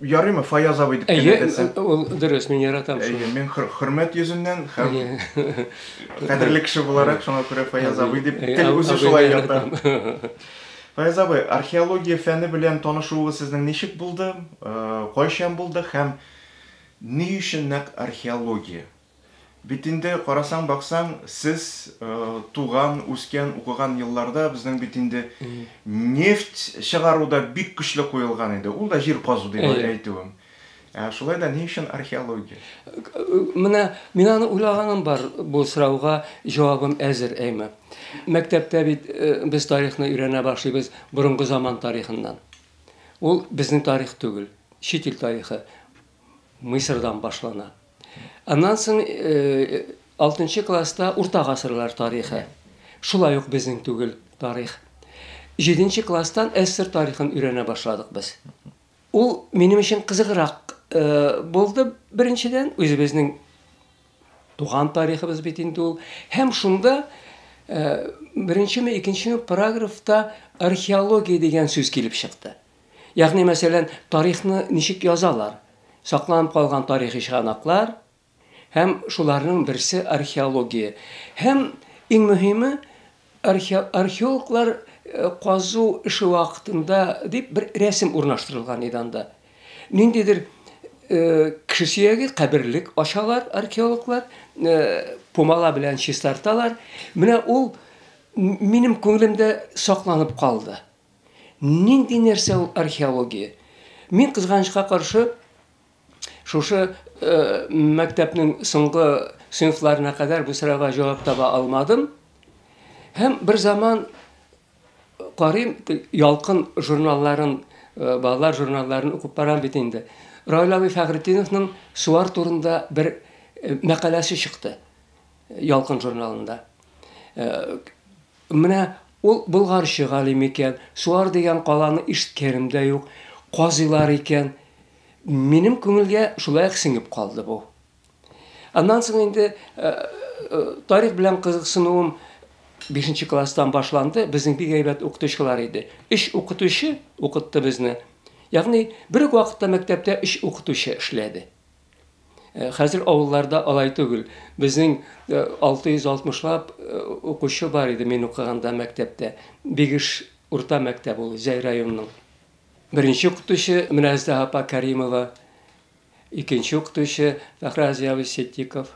ярыймы фаяз абый дип кенә әйтәсең ул дөрес мин яратам шуны мин хөрмәт йөзеннән һәм кадерле кеше буларак шуңа күрә фаяз абый дип тел үзе шулай ята фаяз абый археология фәне белән танышуыгыз сезнең ничек булды кайчан булды һәм ни өчен нәкъ археология Бит инде, карасаң-баксаң, сез туган, үскән, укыган елларда безнең бит инде нефть чыгару да бик көчле куелган иде. Ул да җир казу дип әйтүем. Ә шулай да ни өчен археология? Менә мин аны уйлаганым бар, бу сорауга җавабым әзер, әйме. Мәктәптә бит без тарихны өйрәнә башлыйбыз борынгы заман тарихыннан. Ул безнең тарих түгел, чит ил тарихы. Мисырдан башлана. Аннан соң алтынчы класста урта гасырлар тарихы. Шулай ук безнең түгел тарих. Җиденче класстан СССР тарихын өйрәнә башладык без. Ул минем өчен кызыграк булды, беренчедән, үзебезнең туган тарихыбыз бит инде ул. Һәм шунда беренчеме, икенчеме параграфта археология дигән сүз килеп чыкты. Ягъни, мәсәлән, тарихны ничек язалар? Сакланып калган тарихи чыганаклар һәм шуларның берсе археология. Һәм иң мөһиме, археологлар казу эше вакытында дип бер рәсем урнаштырылган иде анда. Ниндидер кеше сөяге, каберлек ачалар археологлар, пумала белән чистарталар. Менә ул минем күңелемдә сакланып калды. Нинди нәрсә ул археология? Мин кызганычка каршы шушы э, мәктәпнең соңгы сыйныфларына кадәр бу сорауга җавап таба алмадым. Һәм бер заман карыйм ялкын журналларын э, балалар журналларын укып барам бит инде раил абый фәхретдиновның суар турында бер э, мәкаләсе чыкты ялкын журналында э, Менә ул болгарчы галим икән, Суар дигән каланы ишеткәнем дә юк, казыйлар икән. Минем күңелгә шулай ук сеңеп калды бу. Аннан соң инде тарих белән кызыксынуым бишенче класстан башланды, безнең бик әйбәт укытучылар иде. Өч укытучы укытты безне. Ягъни бер үк вакытта мәктәптә өч укытучы эшләде. Э, хәзер авылларда алай түгел. Безнең 660лап э, э, укучы бар иде мин укыганда мәктәптә. Бигеш урта мәктәп ул Зәй районының. Беренче укытучы Минәздә апа Кәримова, икенче укытучы Фәхразия Сеттиков.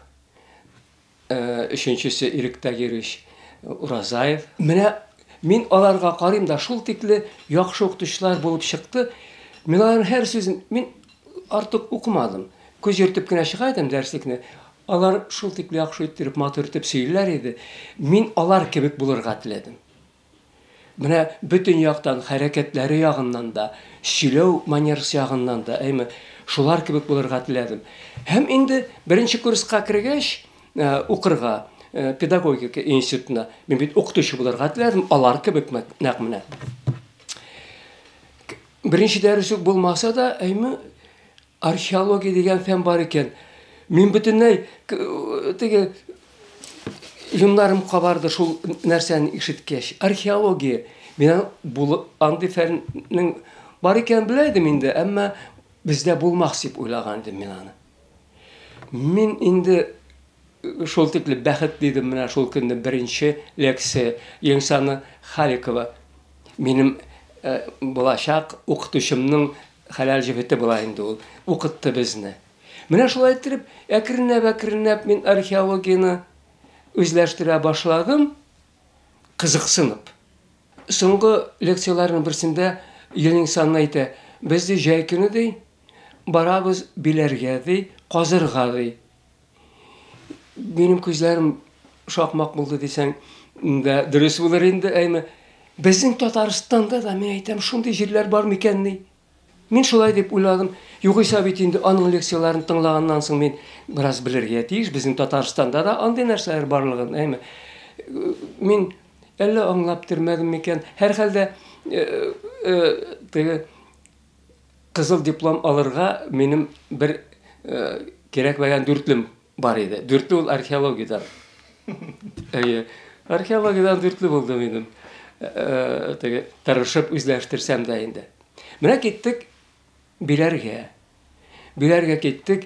Ә өченчесе иректә йөрүч Уразаев. Менә мин аларга карыйм да, шул тикле яхшы укытучылар булып чыкты. Мин аларның һәр сүзен, мин артык укымадым. Күз йөртеп кенә чыга идем дәреслекне. Алар шул тикле яхшы иттереп, матур итеп сөйлиләр иде. Мин алар кебек булырга теләдем. Менә бөтен яктан, хәрәкәтләре ягыннан да, сөйләү манерасы ягыннан да, әйме, шулар кебек булырга теләдем. Һәм инде беренче курска кергәч, э, укырга, э, педагогика институтына, мин бит укытучы булырга теләдем, алар кебек мәк- нәкъ менә. Беренче дәрес үк булмаса да, әйме, Археология дигән фән бар икән. Мин бөтенләй теге юннарым кабарды шул нәрсәне ишеткәч. Археология. Мин андый фәннең бар икәнен белә идем инде, әмма бездә булмас дип уйлаган идем мин аны. Мин инде Шул тикле бәхет дидем менә шул көнне беренче лекция Ленсана Халикова минем булачак укытучымның хәләл җефете була инде ул укытты безне. Менә шулай иттереп әкренләп әкренләп мин археологияне үзләштерә башладым кызыксынып. Соңгы лекцияләрнең берсендә Ленсана әйтә, без ди җәй көне ди барабыз Биләргә ди казырга ди. Минем күзләрем шакмак булды дисәң дә дөрес булыр инде, әйме. Безнең Татарстанда да мин әйтәм, шундый җирләр бар микәнни? Мин шулай дип уйладым. Югыйсә бит инде аның лекцияләрен тыңлаганнан соң мин бераз белергә тиеш. Безнең Татарстанда да андый нәрсәләр барлыгын, әйме. Мин әллә аңлап термәдем микән? Һәрхәлдә, э, э, теге Кызыл диплом алырга минем бер кирәкмәгән дүртлем бар иде. Дүртле ул археологиядән. Әйе. Археологиядән дүртле булды минем. Теге тырышып үзләштерсәм дә инде. Менә киттек Биләргә. Биләргә киттек.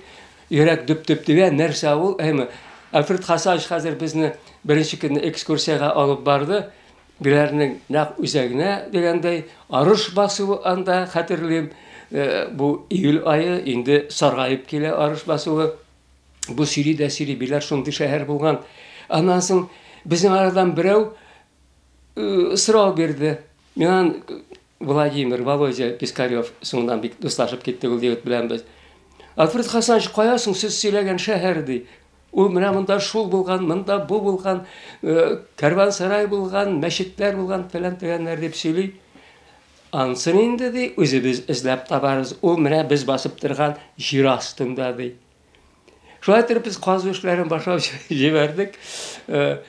Йөрәк дөп-дөп тибә, нәрсә ул? Әйме, Альфред Хасанович хәзер безне беренче көнне экскурсиягә алып барды. Герәрнең нәкъ үзәгенә дигәндәй, арыш басуы анда, хәтерлим, бу июль ае, инде саргаеп килә арыш басуы. Бу сөйли дә сөйли, Биләр шундый шәһәр булган. Аннан соң безнең арадан берәү сорау бирде. Миңа Владимир, Володя Пискарев, соңыннан бик дуслашып киттек ул егет белән без. Альфред Хасанович, кая соң сез сөйләгән шәһәр, ди. Ул менә монда шул булган, монда бу булган, э, кәрвансарай булган, мәчетләр булган, фәлән төгәннәр дип сөйли. Ансын инде, ди, үзебез эзләп табарыз. Ул менә без басып торган җир астында, ди. Шулай итеп без казу эшләрен башлап җибәрдек. Э,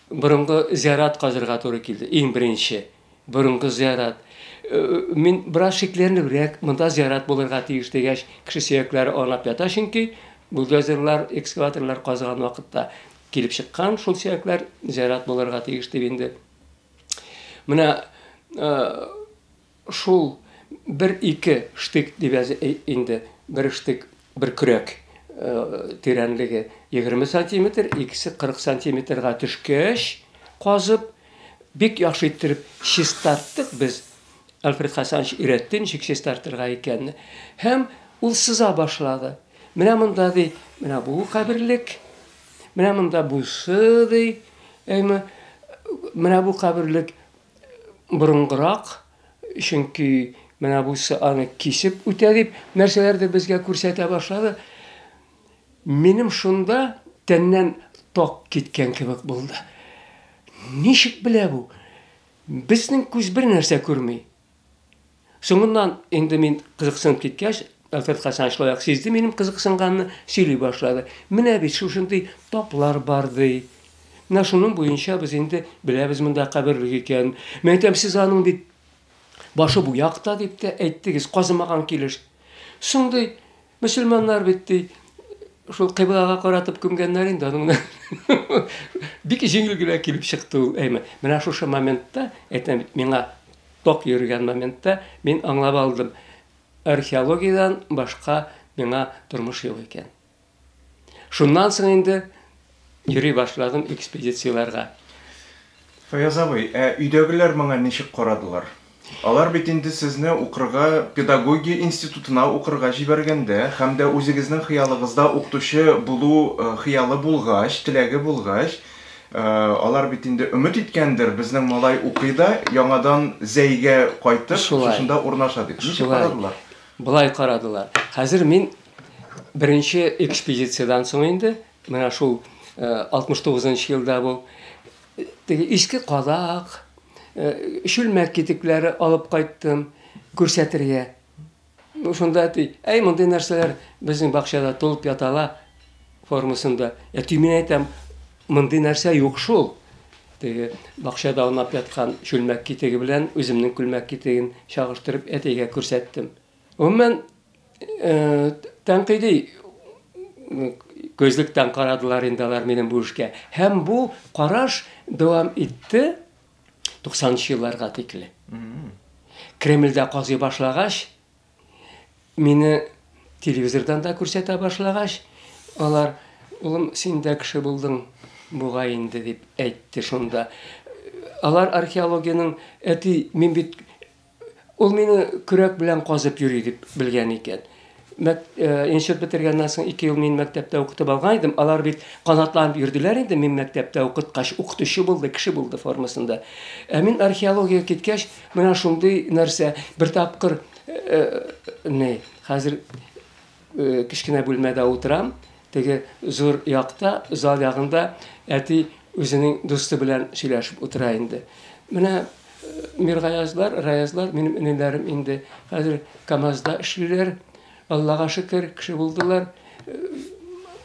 борынгы зиярат казырга туры килде. Иң беренче борынгы зиярат. Э, мин бераз шикләнебрәк, монда зиярат булырга тиеш дигәч, кеше сөякләре аунап ята, чөнки бульдозерлар, экскаваторлар казыган вакытта килеп чыккан шул сөякләр зиярат булырга тиеш дип инде. Менә э, Шул бер-ике штык дип әз инде, бер штык, бер көрәк тирәнлеге егерме сантиметр, икесе кырык сантиметрга төшкәч, казып, бик яхшы иттереп чистарттык без, Альфред Хәсәнович өйрәтте ничек чистартырга икәнне, һәм ул сыза башлады. Менә монда, ди, менә бу каберлек, менә монда бусы, ди, әйме, менә бу каберлек, борынгырак, чөнки менә бусы аны кисеп үтә дип нәрсәләрдер безгә күрсәтә башлады. Минем шунда тәннән ток киткән кебек булды. Ничек белә бу? Безнең күз бер нәрсә күрми. Соңыннан инде мин кызыксынып киткәч, Әфәт Хәсән шулай ук сизде минем кызыксынганны, сөйли башлады. Менә бит шушындый таплар бар, ди. Менә шуның буенча без инде беләбез монда каберлек икәнен. Мин әйтәм, сез аның бит башы бу якта дип тә әйттегез, казымаган килеш. Соң, ди, Мөселманнар бит ди, шул кыйблага каратып күмгәннәр инде аның белән. Бик җиңел генә килеп чыкты ул әйме. Менә шушы моментта, әйтәм бит, миңа ток йөргән моментта мин аңлап алдым. Археологиядән башка миңа тормыш юк икән. Шуннан соң инде Йөри башладым экспедицияләргә. Фаяз абый, ә өйдәгеләр моңа ничек карадылар? Алар бит инде сезне укырга педагогия институтына укырга җибәргәндә һәм дә үзегезнең хыялыгызда укытучы булу хыялы булгач, теләге булгач, алар бит инде өмет иткәндер, безнең малай укый да, яңадан Зәйгә кайтып, шушында урнаша дип. Ничек карадылар? Болай карадылар. Хәзер мин беренче экспедициядән соң инде Менә шул 69 нчы елда бу теге иске кадак, чүлмәк китекләре алып кайттым күрсәтергә. Шунда әти, әй, мондый нәрсәләр безнең бакчада тулып ятала формасында. Әти, мин әйтәм, мондый нәрсә юк шул. Теге бакчада аунап яткан чүлмәк китеге белән үземнең күлмәк китеген чагыштырып әтигә күрсәттем. Гомумән, тәнкыйди күзлектән карадылар инде алар минем бу эшкә. Һәм бу караш дәвам итте 90 елларга тикле. Кремльдә казый башлагач, мине телевизордан да күрсәтә башлагач, алар, улым, син дә кеше булдың бугай инде дип әйтте шунда. Алар археологиянең әти, мин бит Ул мине көрәк белән казып йөри дип белгән икән. Мәк, э, иншеп бетергәннән соң ике ел мин мәктәптә укытып алган идем. Алар бит канатланып йөрделәр инде мин мәктәптә укыткач, укытучы булды, кеше булды формасында. Ә мин археологиягә киткәч, менә шундый нәрсә, бер тапкыр, э, э, не, хәзер Кечкенә бүлмәдә утырам. Теге зур якта, зал ягында әти үзенең дусты белән сөйләшеп утыра инде. Менә Миргаязлар, Раязлар, минем энеләрем инде хәзер КАМАЗда эшлиләр. Аллага шөкер, кеше булдылар.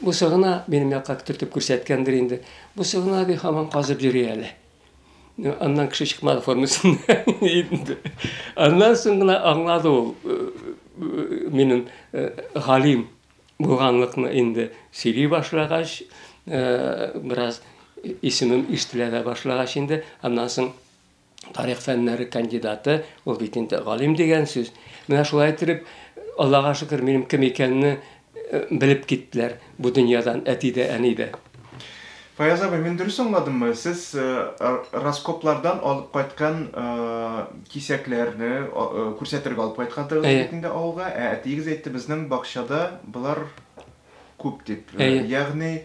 Бусы гына минем якка төртеп күрсәткәндер инде. Бусы гына, ди, һаман казып йөри әле. Аннан кеше чыкмады формасында. Аннан соң гына аңлады ул минем галим булганлыкны инде сөйли башлагач, бераз исемем ишетелә дә башлагач инде, аннан соң тарих фәннәре кандидаты, ул бит инде галим дигән сүз. Менә шулай итеп, Аллага шөкер, минем кем икәнне Белеп киттеләр бу дөньядан әти дә, әни дә. Фаяз абый, мин дөрес аңладыммы, сез раскоплардан алып кайткан кисәкләрне күрсәтергә алып кайткантыгыз бит инде авылга, ә әтиегез әйтте, безнең бакчада болар күп дип. Ягъни,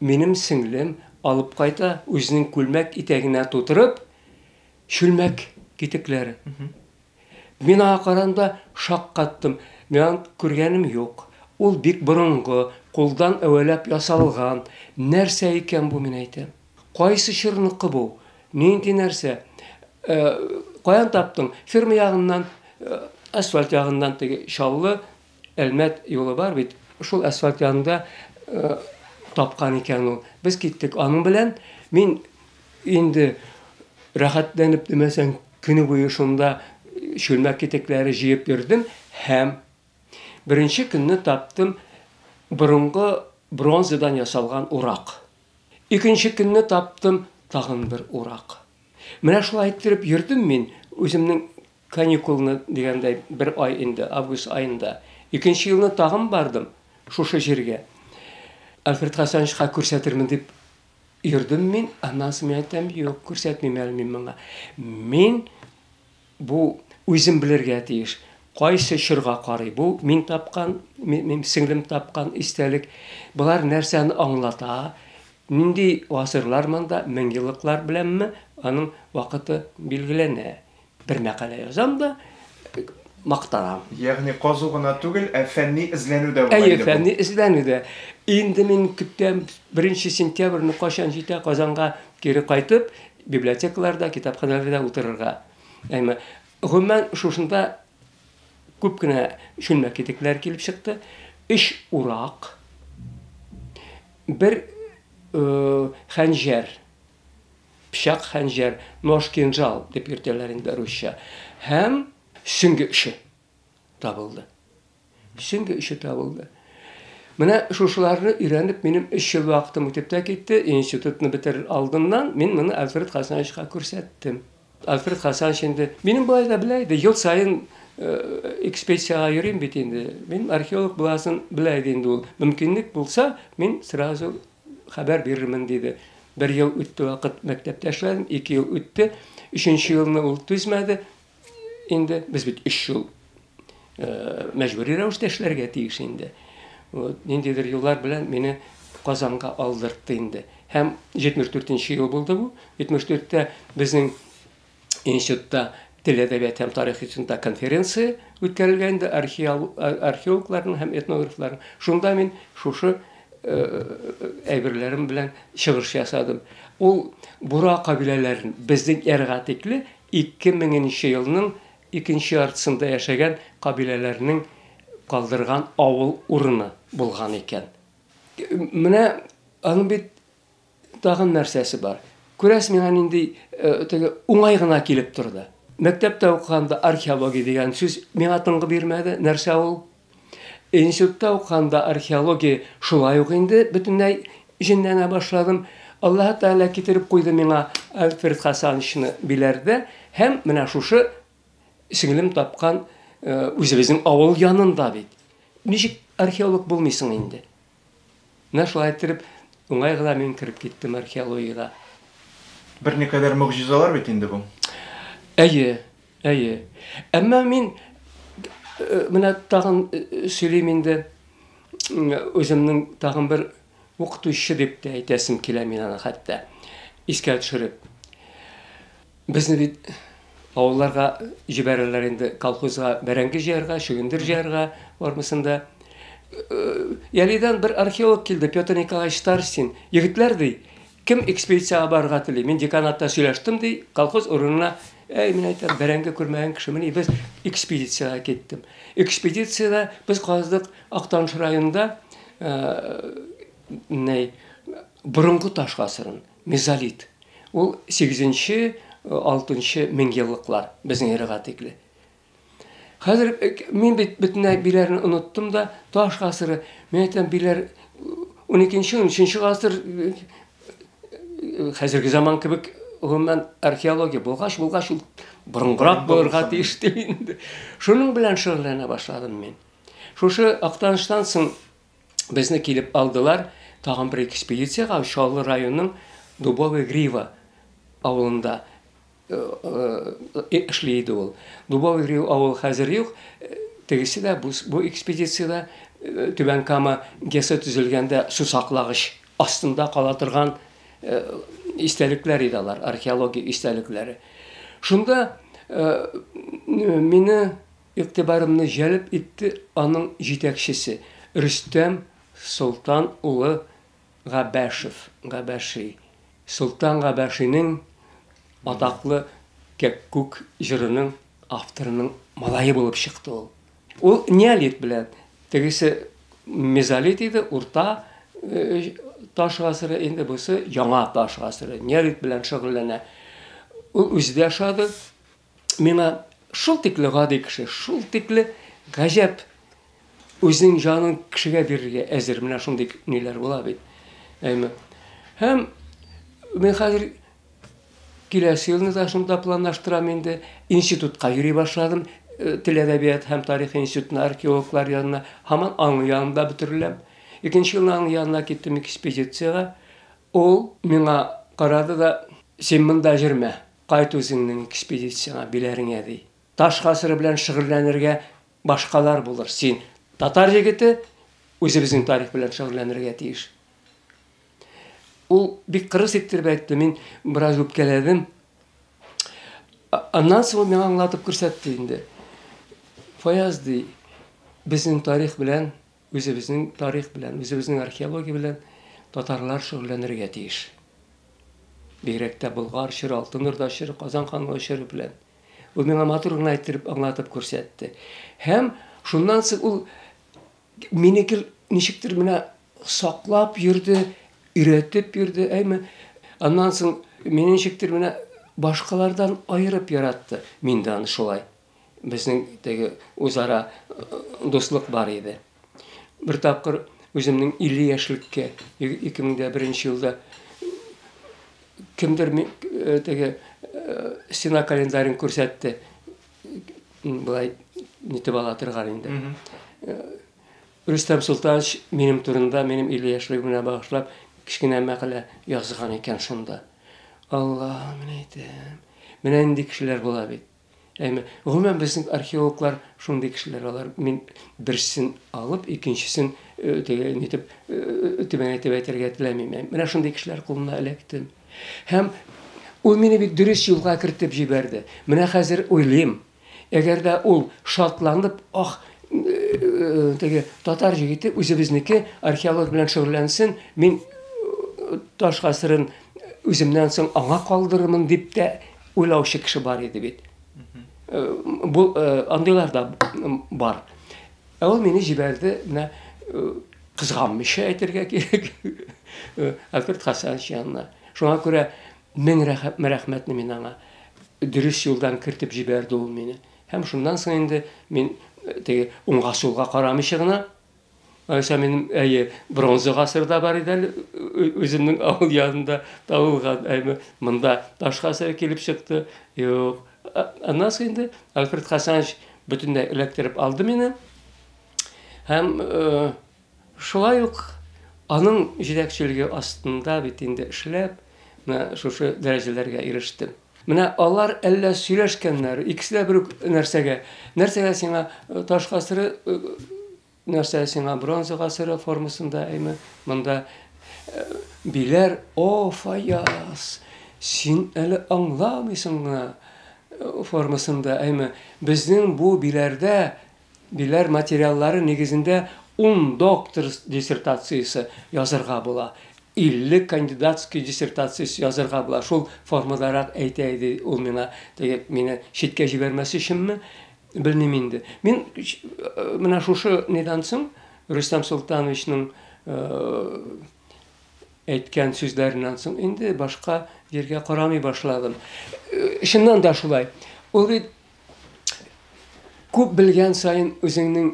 Минем сеңлем алып кайта, үзенең күлмәк итәгенә тутырып, чүлмәк китекләре. Мин аңа караганда шаккаттым. Мин аны күргәнем юк. Ул бик борынгы, кулдан әвәләп ясалган. Нәрсә икән бу, мин әйтәм. Кайсы чорныкы бу? Нинди нәрсә? Каян таптың? Ферма ягыннан, асфальт ягыннан теге Чаллы Әлмәт юлы бар бит, шул асфальт янында тапкан икән ул. Без киттек аның белән. Мин инде рәхәтләнеп димәсәң, көне буе шунда чүлмәк китекләре җыеп йөрдем һәм беренче көнне таптым борынгы бронзадан ясалган урак. Икенче көнне таптым тагын бер урак. Менә шулай иттереп йөрдем мин үземнең Каникулны, дигәндәй, бер ай инде, август аенда. Икенче елны тагын бардым шушы җиргә. Альфред Хасановичка күрсәтермен дип йөрдем мин, аннан соң мин әйтәм, юк, күрсәтмим әле мин моңа. Мин бу үзем белергә тиеш. Кайсы чорга карый бу? Мин тапкан, мин сеңлем тапкан истәлек. Болар нәрсәне аңлата? Нинди гасырлар монда, меңьеллыклар беләнме? Аның вакыты билгеләнә. Бер мәкалә язам да, мактанам. Ягъни казу гына түгел, ә фәнни эзләнү дә була инде бу. Әйе, фәнни эзләнү дә. Инде мин көтәм, беренче сентябрьне кайчан җитә Казанга кире кайтып, библиотекаларда, китапханәләрдә утырырга. Әмма, гомумән, шушында күп кенә чүлмәк китекләре килеп чыкты. Өч урак, бер хәнҗәр, Пычак, хәнҗәр, нож, кинжал дип йөртәләр инде русча. Һәм сөңге өче табылды. Сөңге өче табылды. Менә шушыларны өйрәнеп, минем өч ел вакытым үтеп тә китте. Институтны бетерер алдыннан мин моны Альфред Хасановичка күрсәттем. Альфред Хасанович инде минем болай да белә иде, ел саен э, экспедициягә йөрим бит инде. Мин археолог буласын белә иде инде ул. Мөмкинлек булса, мин сразу Хәбәр бирермен, диде. Бер ел үтте вакыт, мәктәптә эшләдем, ике ел үтте. Өченче елны ул түзмәде инде. Без бит өч ел мәҗбүри рәвештә эшләргә тиеш инде. Вот, ниндидер юллар белән мине Казанга алдыртты инде. Һәм 74 нче ел булды бу. 74 тә безнең институтта тел әдәбият һәм тарих институтында конференция үткәрелгән инде археологларның һәм этнографларның шунда мин шушы э, әйберләрем белән чыгыш ясадым ул бура кабиләләрен безнең эрга тикле 2000 елның икенче яртысында яшәгән кабиләләрнең калдырган авыл урыны булган икән менә аның бит Тагын нәрсәсе бар? Күрәс миңа нинди теге уңай гына килеп торды. Мәктәптә укыганда археология дигән сүз миңа тынгы бирмәде. Нәрсә ул? Институтта укыганда археология шулай ук инде бөтенләй җенләнә башладым. Аллаһы Тәгалә китереп куйды миңа Альфред Хасановичны Биләрдә һәм менә шушы сеңлем тапкан үзебезнең авыл янында бит. Ничек археолог булмыйсың инде? Менә шулай иттереп, уңай гына мин кереп киттем археологиягә. Берникадәр могҗизалар бит инде бу. Әйе, әйе. Әмма мин менә тагын сөйлим инде үземнең тагын бер укытучы дип тә әйтәсем килә мин аны хәтта искә төшереп. Безне бит авылларга җибәрәләр инде колхозга бәрәңге җыярга, чөгендер җыярга, бармысын да. Ялидан бер археолог килде, Петр Николаевич Старстин. Егетләр ди, кем экспедициягә барырга тели? Мин деканатта сөйләштем ди, колхоз урынына Әй, мин әйтәм, бәрәңге күрмәгән кешемени, без экспедициягә киттем. Экспедициядә без каздык Актаныш районында, ә, ней, борынгы таш гасырын. Мезолит, ул сигезенче, алтынчы меңьеллыклар, безнең эрага тикле. Хәзер мин бит бөтенләй биләрне оныттым да, таш гасыры, мин әйтәм, биләр уникенче, унөченче гасыр хәзерге заман кебек гомумән археология булгач, булгач ул борынгырак булырга тиеш дип инде. Шуның белән шөгыльләнә башладым мин. Шушы Актаныштан соң безне килеп алдылар, тагын бер экспедициягә Чаллы районының Дубовая Грива авылында э, э, эшли иде ул. Дубовая Грива авыл хәзер юк, тегесе дә бу, бу экспедициядә э, Түбән Кама ГЭСы төзелгәндә сусаклагыч астында кала торган истәлекләр иде алар, археология истәлекләре. Шунда мине Игътибарымны җәлеп итте аның җитәкчесе, Рөстәм Солтан улы Габәшев, Габәши. Солтан Габәшинең атаклы Кәккүк җырының авторының малае булып чыкты ул. Ул неолит белән, тегесе мезолит иде, урта таш гасыры, инде бусы яңа таш гасыры, неолит белән шөгыльләнә. Ул үзе дә ошады. миңа шул тикле гади кеше, шул тикле гаҗәп үзенең җанын кешегә бирергә әзер. Менә шундый ниләр була бит. Әйме. Һәм мин хәзер киләсе елны да шунда планлаштырам инде. Институтка йөри башладым. Э, тел әдәбият һәм тарих институтына археологлар янына һаман аның янында бөтереләм. Икенче елны аның янына киттем экспедициягә. Ул миңа карады да, син монда җөрмә. Кайт үзеңнең экспедицияңә, биләреңә, ди. Таш гасыры белән шөгыльләнергә башкалар булыр, син, татар егете, үзебезнең тарих белән шөгыльләнергә тиеш. Ул бик кырыс иттереп әйтте, мин бераз үпкәләдем. Аннан соң ул миңа аңлатып күрсәтте инде. Фаяз, ди, безнең тарих белән Үзебезнең тарих белән, үзебезнең археология белән татарлар шөгыльләнергә тиеш. Бигрәк тә Болгар чоры, Алтын Урда чоры, Казан ханлыгы чоры белән. Ул миңа матур гына әйттереп, аңлатып күрсәтте. Һәм шуннан соң ул мине гел ничектер менә саклап йөрде, өйрәтеп йөрде, әйме. Аннан соң мине ничектер менә башкалардан аерып яратты. Мин дә аны шулай. безнең теге үзара дуслык бар иде. Бер тапкыр үземнең 50 яшьлеккә 2001 елда кемдер э, теге э, стена календарен күрсәтте. Былай нитеп ала торган инде. Э, Рөстәм Султанович минем турында, минем 50 яшьлегемә багышлап кечкенә мәкалә язган икән шунда. Алла, менә әйтәм. Менә нинди кешеләр була бит. Әмма гомумән безнең археологлар шундый кешеләр алар. Мин берсен алып, икенчесен э, теге нитеп э, э, төбән әйтеп әйтергә теләмим. Менә шундый кешеләр кулына эләктем. Һәм ул мине бит дөрес юлга кертеп җибәрде. Менә хәзер уйлыйм, әгәр дә ул шатланып, ах, теге татар җигите үзебезнеке археолог белән шөгыльләнсен, мин таш гасырын үземнән соң аңа калдырырмын дип тә Уйлаучы кеше бар иде бит. Бу андыйлар да бар. Ә ул мине җибәрде, менә кызганмыйча әйтергә кирәк. Альберт Хасанович янына. Шуңа күрә мең рәхмәтне мин аңа дөрес юлдан кертеп җибәрде ул мине. Һәм шуннан соң инде мин теге уңга сулга карамыйча гына Аша минем әйе бронза гасырда бар иде әле үземнең авыл янында табылган әйме монда таш гасыры килеп чыкты юк аннан соң инде альфред хасанович бөтенләй эләктереп алды мине һәм э, шулай ук аның җитәкчелеге астында бит инде эшләп менә шушы дәрәҗәләргә ирештем Менә алар әллә сөйләшкәннәр, икесе дә бер үк нәрсәгә. Нәрсәгә сиңа таш гасыры, нәрсә сиңа бронза гасыры формасында, әйме, монда биләр, о, Фаяз, син әле аңламыйсың гына формасында, әйме, безнең бу биләрдә Биләр материаллары нигезендә ун доктор диссертациясе язырга була, илле кандидатский диссертациясе язырга була. Шул формадарак әйтә иде ул миңа, теге мине читкә җибәрмәс өченме, белмим инде. Мин менә шушы нидан соң, Рөстәм Солтановичның әйткән сүзләреннән соң инде башка җиргә карамый башладым. Чыннан да шулай. Ул бит Күп белгән саен үзеңнең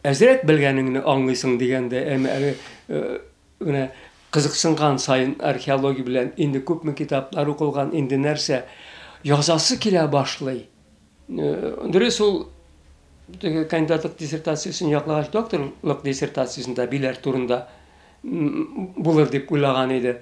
әзрәк белгәнеңне аңлыйсың дигәндә, әмма әле менә кызыксынган саен археология белән инде күпме китаплар укылган, инде нәрсә язасы килә башлый. Дөрес ул теге кандидатлык диссертациясен яклагач докторлык диссертациясендә биләр турында булыр дип уйлаган иде.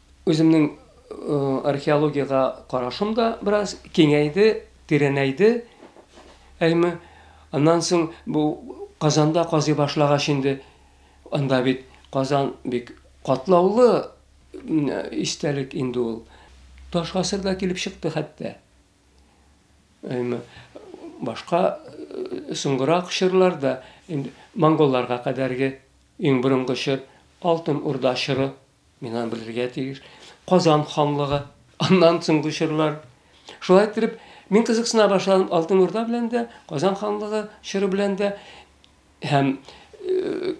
Үземнең археологиягә карашым да бераз киңәйде, тирәнәйде. Әйме, аннан соң бу Казанда казый башлагач инде, анда бит Казан бик катлаулы истәлек инде ул. Таш гасыр да килеп чыкты хәтта. Әйме, башка соңгырак чорлар да, монголларга кадәрге иң борынгы чор, Алтын Урда чоры Мин аны белергә тиеш. Казан ханлыгы, аннан соңгы чорлар. Шулай итеп, мин кызыксына башладым Алтын Урда белән дә, Казан ханлыгы чоры белән дә һәм э,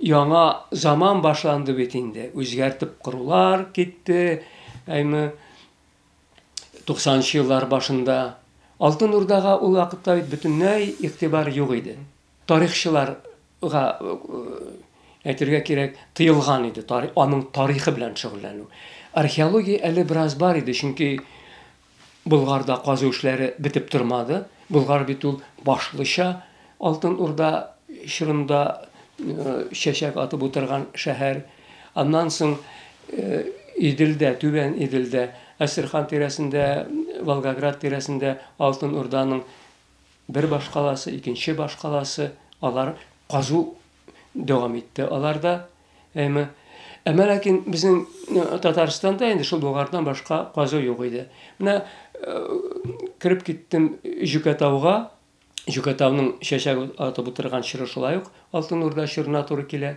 яңа заман башланды бит инде. Үзгәртеп корулар китте. Әйме 90 еллар башында Алтын Урдага ул вакытта бөтенләй игътибар юк иде. Тарихчылар га әйтергә кирәк, тыелган иде тар аның тарихы белән шөгыльләнү. Археология әле бераз бар иде, чөнки Болгарда казу эшләре бетеп тормады. Болгар бит ул башлыча Алтын Урда чорында чәчәк атып утырган шәһәр. Аннан соң Иделдә, Түбән Иделдә, Әстерхан тирәсендә, Волгоград тирәсендә Алтын Урданың бер башкаласы, икенче башкаласы, алар казу дәвам итте аларда. Әмма әмма ләкин безнең э, Татарстанда инде шул Болгардан башка казу юк иде. Менә э, кереп киттем Җүкәтауга, Җүкәтауның чәчәк атып утырган чоры шулай ук Алтын Урда чорына туры килә.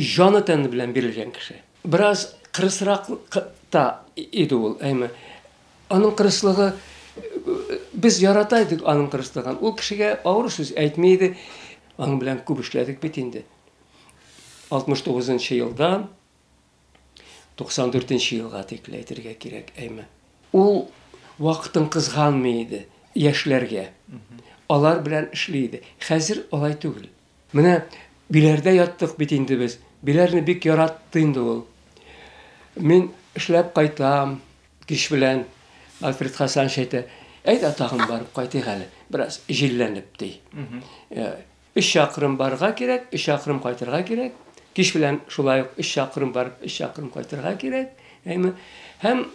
Җаны-тәне белән бирелгән кеше. Бераз кырысрак та иде ул, әйме. Аның кырыслыгы, без ярата идек аның кырыслыгын. Ул кешегә авыр сүз әйтми иде. Аның белән күп эшләдек бит инде. 69 нчы елдан 94 нчы елга тикле әйтергә кирәк, әйме. Ул вакытын кызганмый иде яшьләргә. Алар белән эшли иде. Хәзер алай түгел. Менә Биләрдә яттык бит инде без. Биләрне бик яратты инде ул. Мин эшләп кайтам кич белән. Альфред Хасанович әйтә, әйдә тагын барып кайтыйк әле, бераз җилләнеп, ди. Э, өч чакрым барырга кирәк, өч чакрым кайтырга кирәк. Кич белән шулай ук өч чакрым барып, өч чакрым кайтырга кирәк. Әйме? Һәм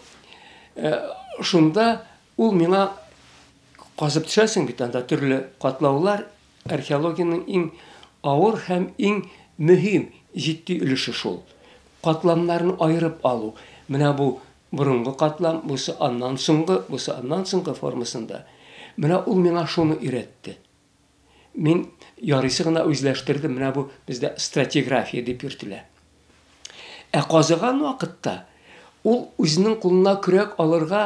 э, шунда ул миңа казып төшәсең бит анда төрле катлаулар, Археологиянең иң авыр һәм иң мөһим, җитди өлеше шул. Катламнарын аерып алу. Менә бу борынгы катлам, бусы аннан соңгы, бусы аннан соңгы формасында. Менә ул миңа шуны өйрәтте. Мин ярыйсы гына үзләштердем, менә бу бездә стратиграфия дип йөртелә. Ә казыган вакытта ул үзенең кулына көрәк алырга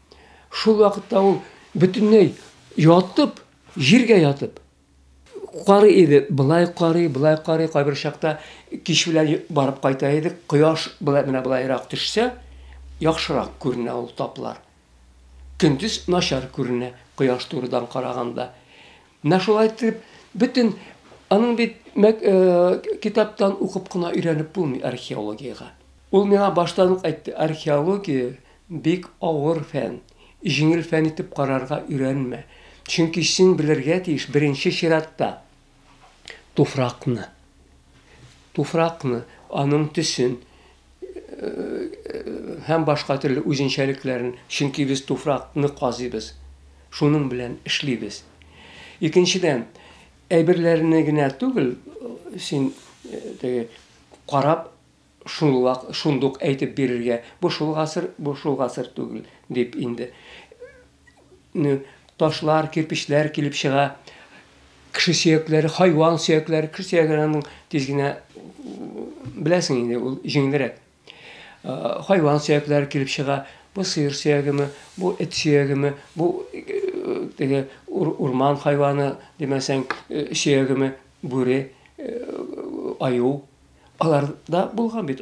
Шул вакытта ул бөтенләй ятып, җиргә ятып карый иде. Былай карый, былай карый, кайбер чакта кич белән барып кайта иде. Кояш былай менә былайрак төшсә, яхшырак күренә ул таплар. Көндез начар күренә, кояш турыдан караганда. Менә шулай итеп, бөтен аның бит китаптан укып кына өйрәнеп булмый археологиягә. Ул миңа баштан ук әйтте, археология бик авыр фән, җиңел фән итеп карарга өйрәнмә, чөнки син белергә тиеш беренче чиратта туфракны, туфракны, аның төсен, һәм башка төрле үзенчәлекләрен, чөнки без туфракны казыйбыз. Шуның белән эшлибез. Икенчедән, әйберләрне генә түгел, син теге карап шул вак шундук әйтеп бирергә, бу шул гасыр, бу шул гасыр түгел дип инде. ташлар, кирпечләр килеп чыга. Кеше сөякләре, хайван сөякләре, кеше сөякләренең тиз генә беләсең инде, ул җиңелрәк. Хайван сөякләре килеп чыга. Бу сыер сөягеме, бу эт сөягеме, бу теге урман хайваны, димәсәң, сөягеме, бүре, аю. Алар да булган бит,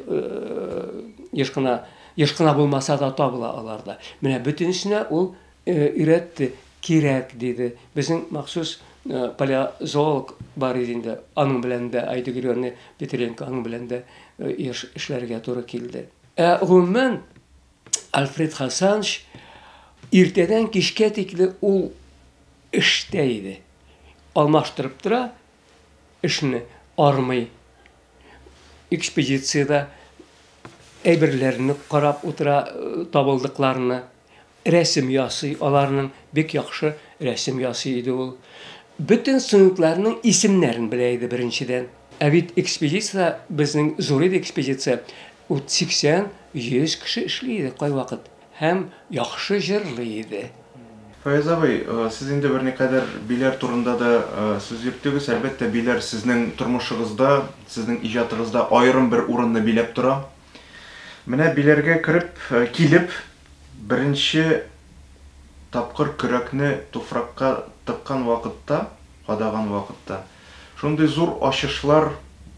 еш кына, еш кына булмаса да табыла аларда. Менә бөтенесенә ул өйрәтте, кирәк диде. Безнең махсус палеозоолог бар иде инде, аның белән дә, Айда Григорьевна Петренко, аның белән дә еш эшләргә туры килде. Ә гомумән, Альфред Хасанович иртәдән кичкә тикле ул эштә иде. Алмаштырып тора, Эшне армый, экспедициядә әйберләрне карап утыра, табылдыкларны, рәсем ясый, аларның бик яхшы рәсем ясый иде ул. Бөтен студентларның исемнәрен белә иде беренчедән. Ә бит экспедициядә, безнең зур иде экспедиция, ут 80-100 кеше эшли иде кайвакыт. Һәм яхшы җырлый иде. Фаяз абый, сез инде берникадәр биләр турында да сүз йөрттегез. Әлбәттә, биләр сезнең тормышыгызда, сезнең иҗатыгызда аерым бер урынны биләп тора. Менә биләргә кереп, килеп, беренче тапкыр көрәкне туфракка тыккан вакытта, кадаган вакытта, шундый зур ачышлар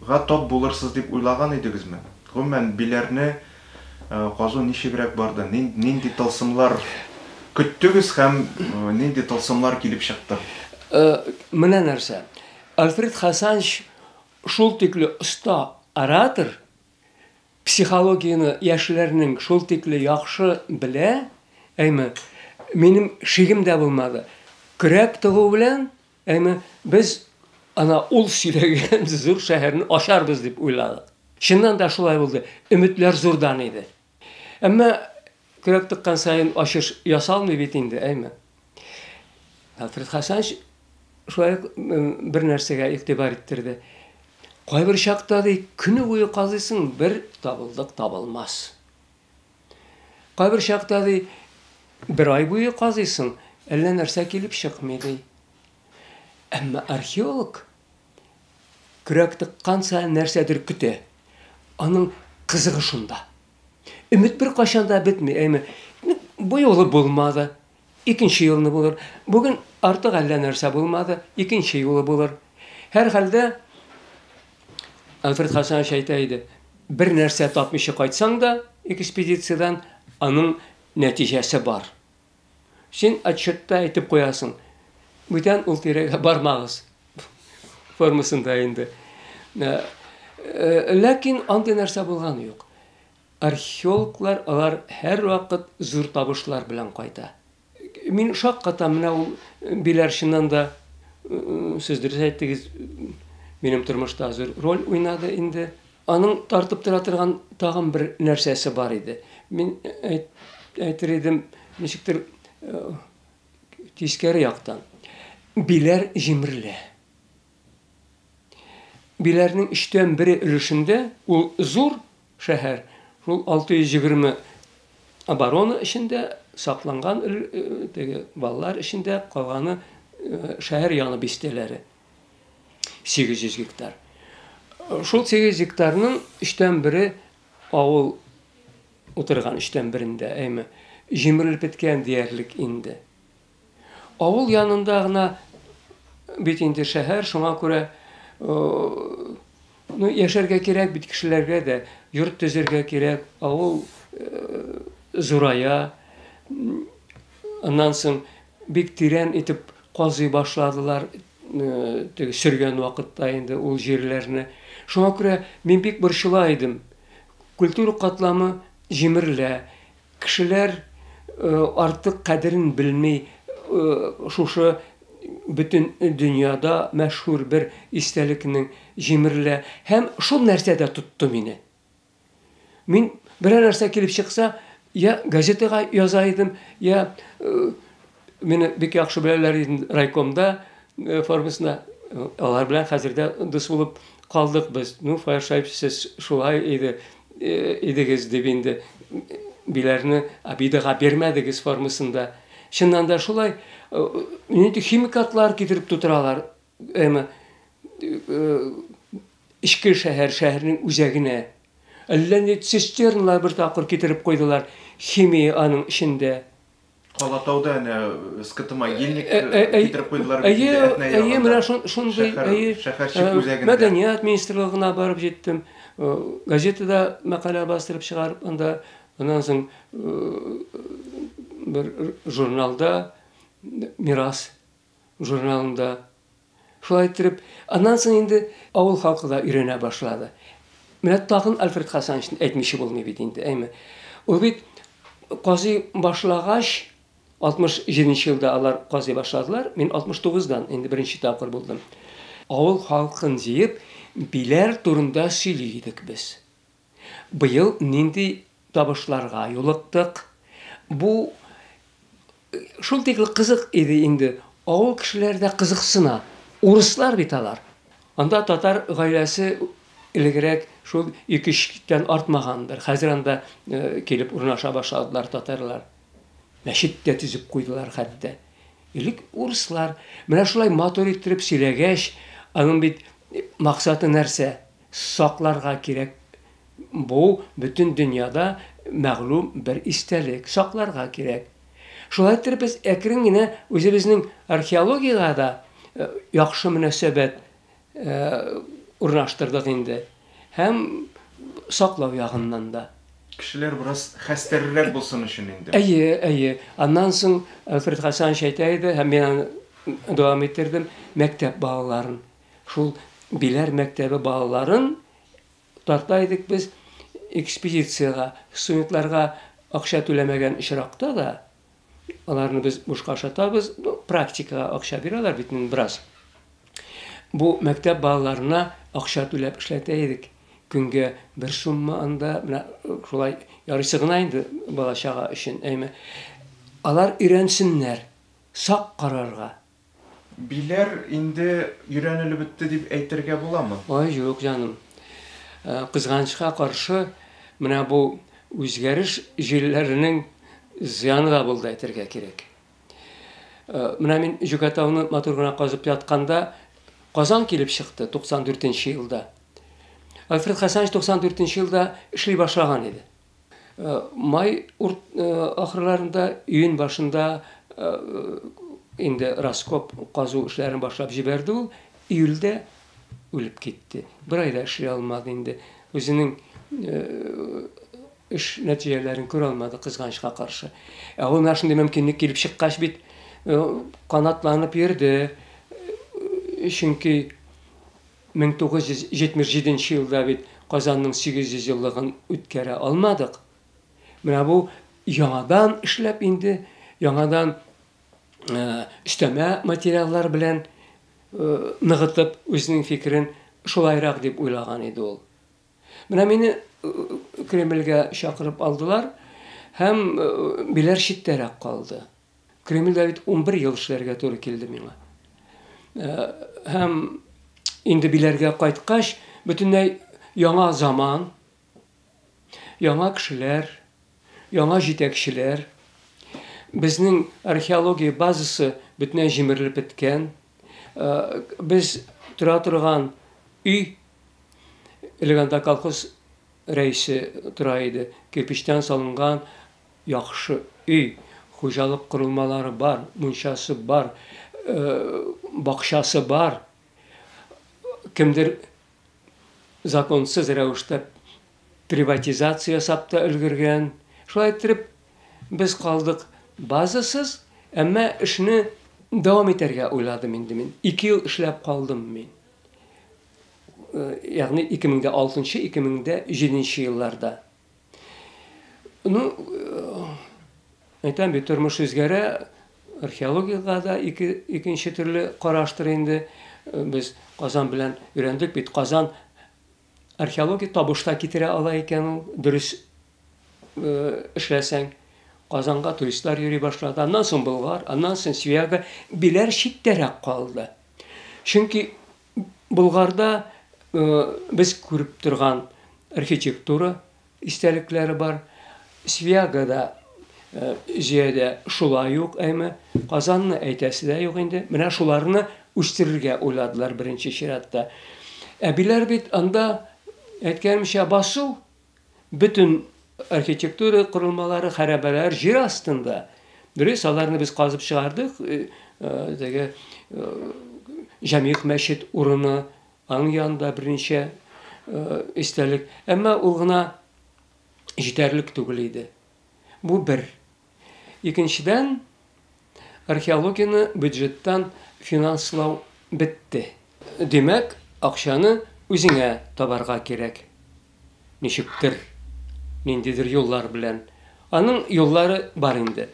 га тап булырсыз дип уйлаган идегезме? Гомумән, биләрне Казу ничегрәк барды? Нинди тылсымлар көттегез һәм нинди тылсымлар килеп чыкты? Менә нәрсә. Альфред Хасанч шул тикле оста оратор, психологияне яшьләрнең шул тикле яхшы белә, әйме, минем шигем дә булмады. Көрәк тыгу белән Әмма без ана ул сөйләгән зур шәһәрне ачарбыз дип уйладык. Чыннан да шулай булды. Өметләр зурдан иде. Әмма көрәк тыккан саен ачыш ясалмый бит инде, әйме? Альфред Хасанович шулай ук бер нәрсәгә игътибар иттерде. Кайбер чакта ди, көне буе казыйсың, бер табылдык табылмас. Кайбер чакта, ди, бер ай буе казыйсың, әллә нәрсә килеп чыкмый, ди. Әмма археолог көрәк тыккан саен нәрсәдер көтә. Аның кызыгы шунда. Өмет бер кайчан да бетми, әйме? Бу юлы булмады. Икенче юлны булыр. Бүген артык әллә нәрсә булмады, икенче юлы булыр. Һәрхәлдә, Альфред Хәсәнович әйтә иде, бер нәрсә тапмыйча кайтсаң да экспедициядән, аның нәтиҗәсе бар. Син отчетта әйтеп куясың, бүтән ул тирәгә бармагыз формасында инде. Ләкин андый нәрсә булганы юк. Археологлар алар һәрвакыт зур табышлар белән кайта. Мин шаккатам, менә ул биләр чыннан да, сез дөрес әйттегез, минем тормышта зур роль уйнады инде. Аның тартып тора торган тагын бер нәрсәсе бар иде. Мин әйтер идем, ничектер тискәре яктан. Биләр җимерелә. Биләрнең өчтән бере өлешендә ул зур Шәһәр шул 620 оборона эчендә сакланган, теге балалар эчендә, калганы шәһәр яны бистәләре. 800 гектар. Шул 800 гектарның өчтән бере авыл утырган өчтән берендә, әйме, җимерелеп беткән диярлек инде. Авыл янында гына бит инде шәһәр, шуңа күрә ну, яшәргә кирәк бит кешеләргә дә, йорт төзергә кирәк, авыл зурая. Аннан соң бик тирән итеп казый башладылар, теге сөргән вакытта инде ул җирләрне. Шуңа күрә мин бик борчыла идем. Культура катламы җимерелә, Кешеләр артык кадерен белми шушы бөтен дөньяда мәшһүр бер истәлекнең җимерелә һәм шул нәрсә дә тотты мине. Мин берәр нәрсә килеп чыкса, йә газетага яза идем, йә Мине бик яхшы беләләр иде райкомда э, формасында. Алар белән хәзер дә дус булып калдык без. Ну, Фаершайп, сез шулай иде, э, идегез дип инде биләрне обидаға бирмәдегез формасында. Чыннан да шулай, э, нинди химикатлар китереп тутыралар, әмма эчке шәһәр, шәһәрнең үзәгенә. Әллә ни цистернлар бер тапкыр китереп куйдылар, химия аның эчендә. Калатауда әнә скт могильник э, э, э, китереп куйдылар бит инде Әйе, менә шундый, әйе. Шәһәрчек үзәгендә. Мәдәният министрлыгына барып җиттем. Газетада мәкалә бастырып чыгарып, анда аннан соң бер журналда Мирас журналында. Шулай иттереп, аннан соң инде авыл халкы да өйрәнә башлады. Менә тагын Альфред Хасановичны әйтмичә булмый бит инде, әйме. Ул бит казый башлагач, 67 нче елда алар казый башладылар, мин 69 дан инде беренче тапкыр булдым. Авыл халкын җыеп, биләр турында сөйли идек без. Быел нинди табышларга юлыктык? Бу шул тикле кызык иде инде, авыл кешеләре дә кызыксына, урыслар бит алар. Анда татар гаиләсе элегрәк шул ике-өч тән артмагандыр, хәзер анда килеп урнаша башладылар татарлар. Мәчет тә төзеп куйдылар хәтта. Элек урыслар менә шулай матур иттереп сөйләгәч, аның бит максаты нәрсә? Сакларга кирәк Бу бөтен дөньяда мәгълүм бер истәлек, сакларга кирәк. Шулай иттереп без әкрен генә үзебезнең археологиягә дә яхшы мөнәсәбәт урнаштырдык инде һәм саклау ягыннан да. Кешеләр бераз хәстәррерәк булсын өчен инде. Әйе, әйе. Аннан соң Альфред Хәсәнович әйтә иде һәм мин аны дәвам иттердем, мәктәп балаларын Шул Биләр мәктәбе балаларын тарта идек без экспедициягә. Студентларга акча түләмәгән очракта да, аларны без бушка ашатабыз. Ну, практикага акча бирәләр бит инде бераз. Бу мәктәп балаларына акча түләп эшләтә идек. Көнгә бер сумма анда, менә шулай ярыйсы гына инде бала-чага өчен, әйме. Алар өйрәнсеннәр сак карарга. Биләр инде өйрәнелеп бетте дип әйтергә буламы? Ай, юк, җаным. Кызганычка каршы, менә бу үзгәреш җилләренең зыяны да булды, әйтергә кирәк. Менә мин Җүкәтауны матур гына казып ятканда, Казан килеп чыкты 94 нче елда. Альфред Хәсәнович 94 нче елда эшли башлаган иде. Май ахырларында, июнь башында инде раскоп казу эшләрен башлап җибәрде ул. Июльдә үлеп китте. Бер айда эшли алмады инде. Үзенең эш нәтиҗәләрен күрә алмады, кызганычка каршы. Ә ул менә шундый мөмкинлек килеп чыккач бит, канатланып йөрде. Чөнки Мең тугыз йөз җитмеш җиденче елда бит Казанның 800 еллыгын үткәрә алмадык. Менә бу яңадан эшләп инде, яңадан өстәмә материаллар белән ныгытып, үзенең фикерен шулайрак дип уйлаган иде ул. Менә мине Кремльгә чакырып алдылар һәм биләр читтәрәк калды. Кремльдә бит унбер ел эшләргә туры килде миңа. Һәм инде биләргә кайткач, бөтенләй яңа заман, яңа кешеләр, яңа җитәкчеләр. Безнең археология базасы бөтенләй җимерелеп беткән. Без тора торган өй, элек анда колхоз рәисе тора иде, кирпечтән салынган Яхшы өй, хуҗалык корылмалары бар, мунчасы бар, бакчасы бар. Кемдер законсыз рәвештә приватизация ясап та өлгергән. Шулай иттереп, без калдык базасыз, әмма эшне дәвам итәргә уйладым инде мин. Ике ел эшләп калдым мин. Ягъни 2006-2007 елларда. Ну, әйтәм бит, тормыш үзгәрә, археологиягә дә ике, икенче төрле караштыр инде. Без Казан белән өйрәндек бит. Казан археология табышта китерә ала икән ул, дөрес э, эшләсәң. Казанга туристлар йөри башлады. Аннан соң Болгар, аннан соң Свияга. Биләр читтәрәк калды. Чөнки Болгарда без күреп торган архитектура истәлекләре бар. Свиягода җиядә шулай ук, әйме. Казанны әйтәсе дә юк инде. Менә шуларны үстерергә уйладылар беренче чиратта. Әбиләр бит анда, әйткәнемчә, басу. Бөтен архитектура корылмалары, хәрабәләр җир астында. Дөрес, аларны без казып чыгардык. Э, э, теге э, Җәмигъ мәчет урыны аның янында берничә истәлек. Әмма ул гына җитәрлек түгел иде. Бу бер. Икенчедән, археологияне бюджеттан финанслау бетте. Димәк, акчаны үзеңә табарга кирәк. Ничектер, ниндидер юллар белән. Аның юллары бар инде.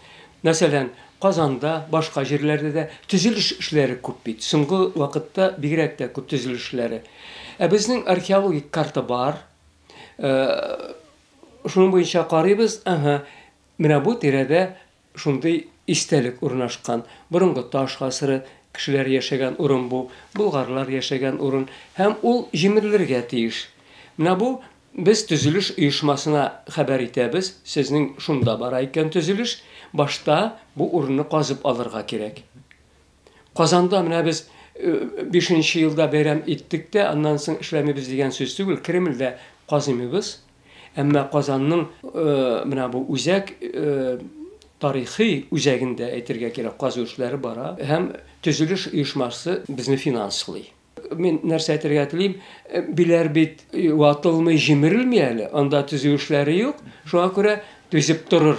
Мәсәлән, Казанда, башка җирләрдә дә төзелеш эшләре күп бит. Соңгы вакытта бигрәк тә күп төзелеш эшләре. Ә безнең археологик карта бар. Шуның буенча карыйбыз, ага, Менә бу тирәдә шундый истәлек урнашкан. Борынгы таш гасыры кешеләре яшәгән урын бу, болгарлар яшәгән урын һәм ул җимерелергә тиеш. Менә бу без төзелеш оешмасына хәбәр итәбез, сезнең шунда бара икән төзелеш, башта бу урынны казып алырга кирәк. Казанда менә без бишенче елда бәйрәм иттек тә, аннан соң эшләмибез дигән сүз түгел, Кремльдә казыймыбыз. Әмма Казанның менә бу үзәк тарихи үзәгендә, әйтергә кирәк, казу эшләре бара һәм төзелеш оешмасы безне финанслый. Мин нәрсә әйтергә телим, биләр бит ватылмый, җимерелми әле, анда төзү эшләре юк, шуңа күрә түзеп торыр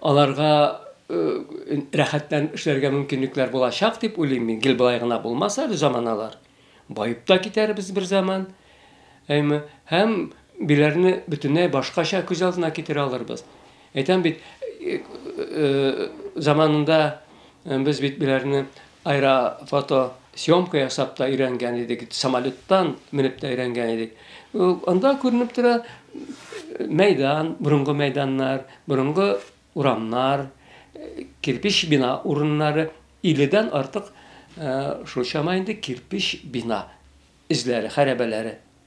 аларга рәхәтләнеп эшләргә мөмкинлекләр булачак дип уйлыйм мин. Гел болай гына булмас әле заманалар. Баеп та китәрбез бер заман. Әйме, һәм биләрне бөтенләй башкача күз алдына китерә алырбыз. Әйтәм бит, заманында без бит биләрне Аэрофото съемка ясап та өйрәнгән идек, самолеттан менеп тә өйрәнгән идек. Анда күренеп тора мәйдан, борынгы мәйданнар, борынгы урамнар, кирпич бина урыннары, 50-дән артык шул чама инде кирпич бина эзләре, хәрабәләре.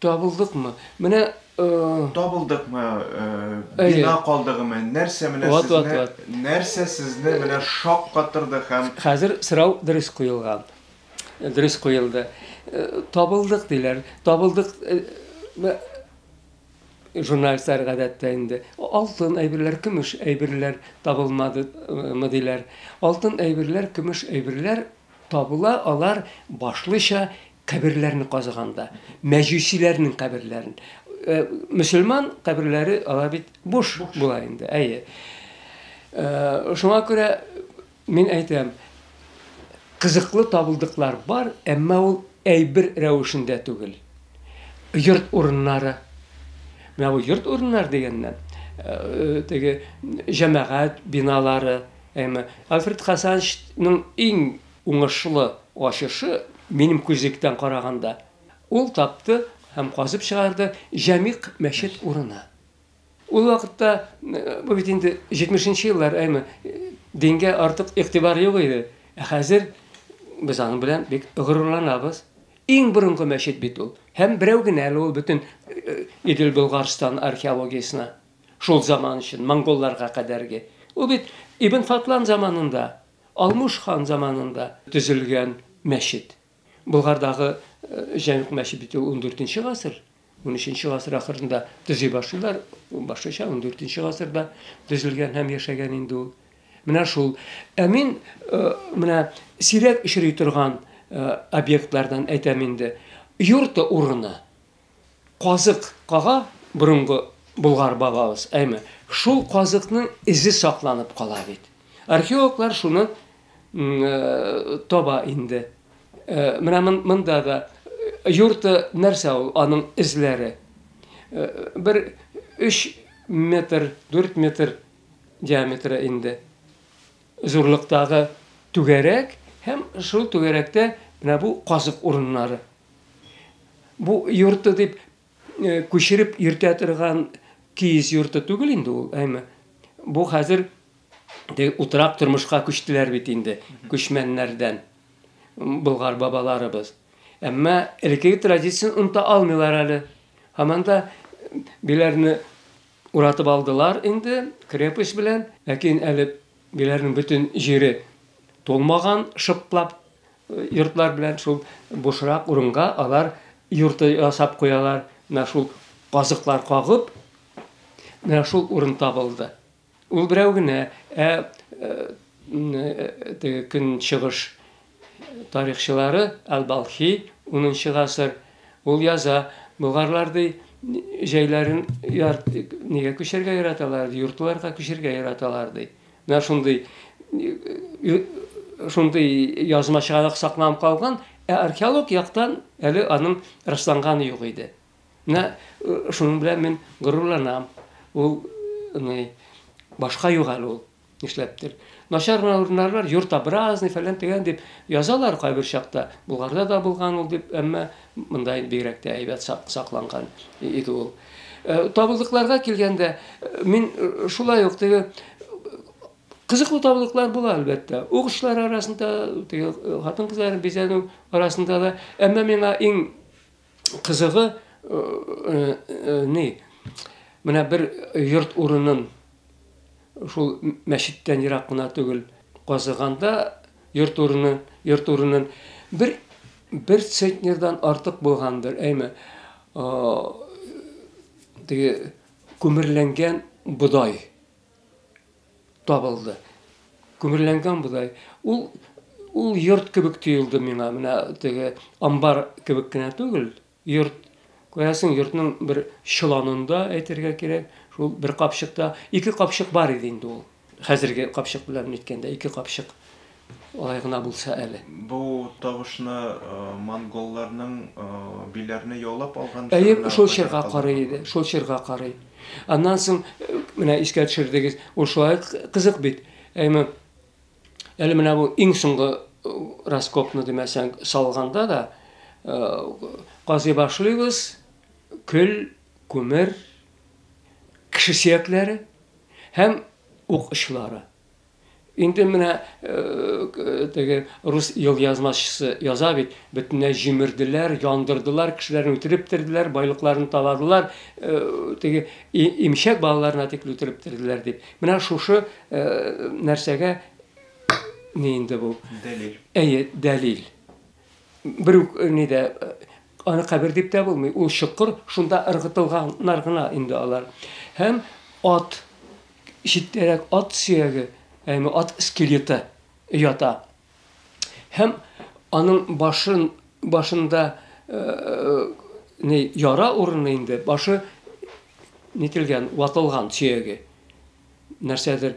Табылдыкмы? Менә э Табылдыкмы, э бина калдыгымы, нәрсә менә сезне, нәрсә сезне менә шаккатырды һәм Хәзер сорау дөрес куелган. Дөрес куелды. Табылдык диләр. Табылдык журналистлар гадәттә инде алтын әйберләр, көмеш әйберләр табылмадымы диләр. Алтын әйберләр, көмеш әйберләр Табыла алар башлыча каберләрне казыганда, мәҗүсиләрнең каберләрен. Мөселман каберләре алар бит буш була инде, әйе. Шуңа күрә мин әйтәм, кызыклы табылдыклар бар, әмма ул әйбер рәвешендә түгел. Йорт урыннары. Менә бу йорт урыннары дигәннән, теге җәмәгать биналары, Әмма Альфред Хасанчның иң уңышлы ачышы, минем күзлектән караганда, ул тапты һәм казып чыгарды Җәмигъ мәчет урыны. Ул вакытта, бу бит инде 70 нче еллар, әйме, дингә артык игътибар юк иде. Ә хәзер без аның белән бик горурланабыз. Иң борынгы мәчет бит ул. Һәм берәү генә әле ул бөтен Идел-Болгарстан археологиясенә. Шул заман өчен, монголларга кадәрге. Ул бит Ибн Фатлан заманында, Алмуш хан заманында төзелгән мәчет. Болгардагы Җәмигъ мәчет бит ул ундүртенче гасыр, унөченче гасыр ахырында төзи башлыйлар, башлыча ундүртенче гасырда төзелгән һәм яшәгән инде ул. Менә шул. Ә мин менә сирәк очрый торган объектлардан әйтәм инде. Юрты урыны. казык кага борынгы болгар бабабыз, әйме, шул казыкның эзе сакланып кала бит. Археологлар шуны таба инде. Менә монда да юрты нәрсә ул, аның эзләре. Бер 3 метр, 4 метр диаметры инде. зурлыктагы түгәрәк һәм шул түгәрәктә менә бу казык урыннары. Бу йорты дип күчереп йөртә торган киез йорты түгел инде ул, әйме. Бу хәзер утрак тормышка күчтеләр бит инде күчмәннәрдән болгар бабаларыбыз. Әмма элеккеге традицион оныта алмыйлар әле. Һаман да биләрне Уратып алдылар инде крепость белән, ләкин әле биләрнең бөтен җире тулмаган, шыплап йортлар белән шул бушрак урынга алар йорты ясап куялар, менә шул казыклар кагып, менә шул урын табылды. Ул берәү генә, ә теге көнчыгыш Тарихчылары әл-Балхи, унынчы гасыр, ул яза, болгарлар, ди, җәйләрен яр нигә күчәргә яраталар, ди, йортларга күчәргә яраталар, ди. Менә шундый шундый язма чыганак сакланып калган, ә археолог яктан әле аның расланганы юк иде. Менә шуның белән мин горурланам. Ул, ну, башка юк әле ул. Нишләптер. Начар гына урыннарлар, йорт образный, фәлән тегән дип язалар кайбер чакта. Булгарда да булган ул дип, әмма монда инде бигрәк тә әйбәт сакланган иде ул. Э, табылдыкларга килгәндә, э, мин э, шулай ук теге кызыклы табылдыклар була, әлбәттә. Угышлар арасында, теге хатын-кызларның бизәнү арасында да, әмма миңа иң кызыгы ни менә бер йорт урынын шул мәчеттән ерак кына түгел казыганда йорт урынын йорт урынын бер бер центнердан артык булгандыр әйме теге күмерләнгән бодай табылды. Күмерләнгән бодай. Ул ул йорт кебек тоелды миңа. Менә теге амбар кебек кенә түгел, йорт. Күрәсең, йортның бер чоланында әйтергә кирәк, шул бер капчыкта ике капчык бар иде инде ул. Хәзерге капчык белән әйткәндә ике капчык Алай гына булса әле. Бу тавышны монголларның Биләрне яулап алган чорына Әйе, шул чорга карый иде, шул чорга карый. Аннан соң, менә искә төшердегез, ул шулай кызык бит. Әйме, әле менә бу иң соңгы раскопны димәсәң салганда да, казый башлыйбыз, көл, күмер, кеше сөякләре һәм ук очлары. Инде менә теге рус елъязмачысы яза бит, бөтенләй җимерделәр, яндырдылар, кешеләрне үтереп терделәр, байлыкларын таладылар, теге имчәк балаларына тикле үтереп терделәр дип. Менә шушы нәрсәгә ни инде бу? Дәлил. Әйе, дәлил. Бер үк ни дә аны кабер дип тә булмый. Ул чокыр, шунда ыргытылганнар гына инде алар. Һәм ат Читтәрәк ат сөяге, ягъни ат скелеты ята. Һәм аның башын, башында не яра урыны инде, башы нителгән, ватылган сөяге. Нәрсәдер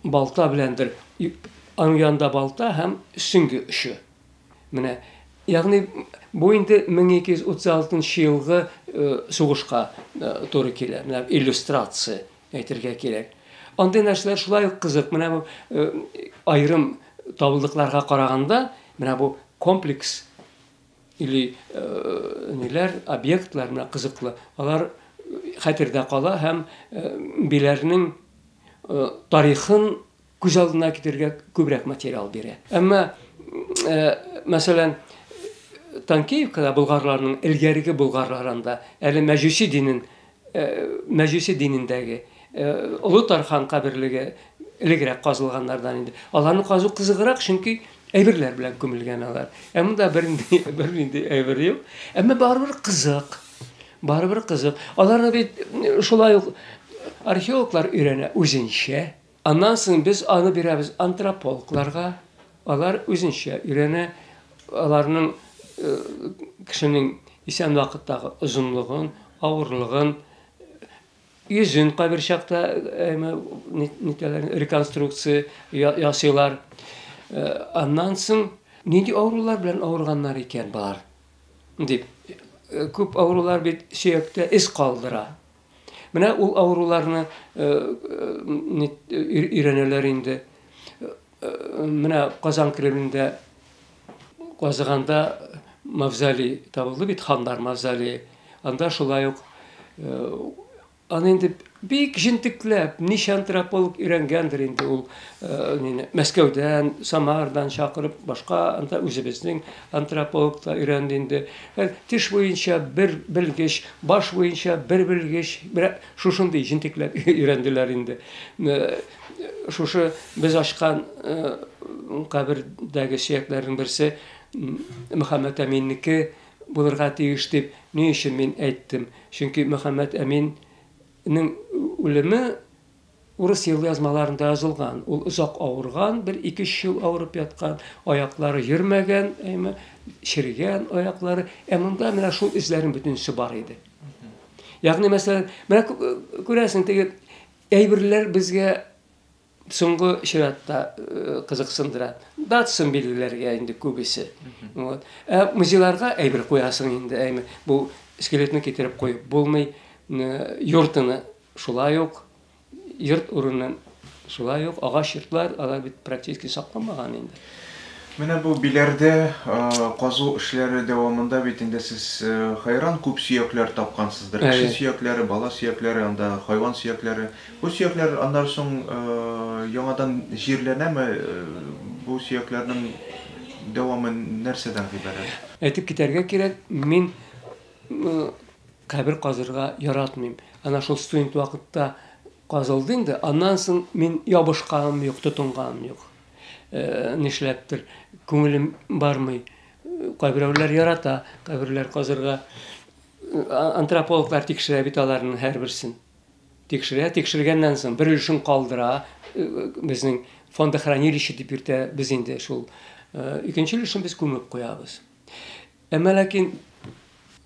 балта беләндер. Аның янында балта һәм сөңге очы. Менә, ягъни бу инде 1236 елгы э, сугышка э, туры килә. Менә иллюстрация әйтергә кирәк. Андый нәрсәләр шулай ук кызык. Менә бу э, аерым табылдыкларга караганда, менә бу комплекс или э, ниләр, объектлар менә кызыклы. Алар хәтердә кала һәм э, биләрнең э, тарихын күз алдына китерергә күбрәк материал бирә. Әмма, мәсәлән, Танкеевкада болгарларның элгәреге болгарларында әле мәҗүси динен мәҗүси динендәге Олы Тархан каберлеге элегрәк казылганнардан инде. Аларны казу кызыграк, чөнки әйберләр белән күмелгән алар. Ә монда бернинди бернинди әйбер юк. Әмма барыбер кызык. Барыбер кызык. Аларны бит шулай ук археологлар өйрәнә үзенчә. Аннан соң без аны бирәбез антропологларга, алар үзенчә өйрәнә, аларның кешенең исән вакыттагы озынлыгын, авырлыгын, йөзен кайбер чакта нитәләр, реконструкция ясыйлар. Аннан соң нинди авырулар белән авырганнар икән болар? дип, күп авырулар бит сөяктә эз калдыра. Менә ул авыруларны өйрәнәләр инде. Менә Казан Кремлендә казыганда мавзолей табылды бит, ханнар мавзолее. Анда шулай ук аны инде бик җентекләп, ничә антрополог өйрәнгәндер инде ул, Мәскәүдән, Самардан чакырып, башка анда үзебезнең Антрополог та өйрәнде инде. Хәзер теш буенча бер белгеч, баш буенча бер белгеч, менә шушындый җентекләп өйрәнделәр инде. Шушы без ачкан кабердәге сөякләрнең берсе Мөхәммәтәминнеке булырга тиеш дип ни өчен мин әйттем? Чөнки Мөхәммәтәминнең үлеме Урыс елъязмаларында язылган, ул озак авырган, бер ике-өч ел авырып яткан, аяклары йөрмәгән, әйме, чергән аяклары, ә монда менә шул эзләрнең бөтенесе бар иде. Ягъни, мәсәлән, менә күрәсең, теге әйберләр безгә соңгы чиратта э, кызыксындыра. Датсын билгеләргә инде күбесе. Вот. Ә музейларга әйбер куясың инде, әйме, бу скелетны китереп куеп булмый, э, йортыны Шулай ук йорт урыны, шулай ук агач йортлар, алар бит практически сакланмаган инде. Менә бу Биләрдә казу эшләре дәвамында бит инде сез хәйран күп сөякләр тапкансыздыр. Кеше сөякләре, бала сөякләре, анда хайван сөякләре. Бу сөякләр аннары соң яңадан җирләнәме? Бу сөякләрнең дәвамы нәрсәдән гыйбарәт? Әйтеп китәргә кирәк, мин Кабер казырга яратмыйм. Ана шул студент вакытта казылды инде. Аннан соң мин ябышканым юк, тотынганым юк. Э, нишләптер, күңелем бармый. Кайберәүләр ярата каберләр казырга. Антропологлар тикшерә бит аларның һәрберсен. Тикшерә, тикшергәннән соң бер өлешен калдыра. Э, безнең фондохранилище дип йөртә без инде шул. Э, икенче өлешен без күмеп куябыз. Әмма ләкин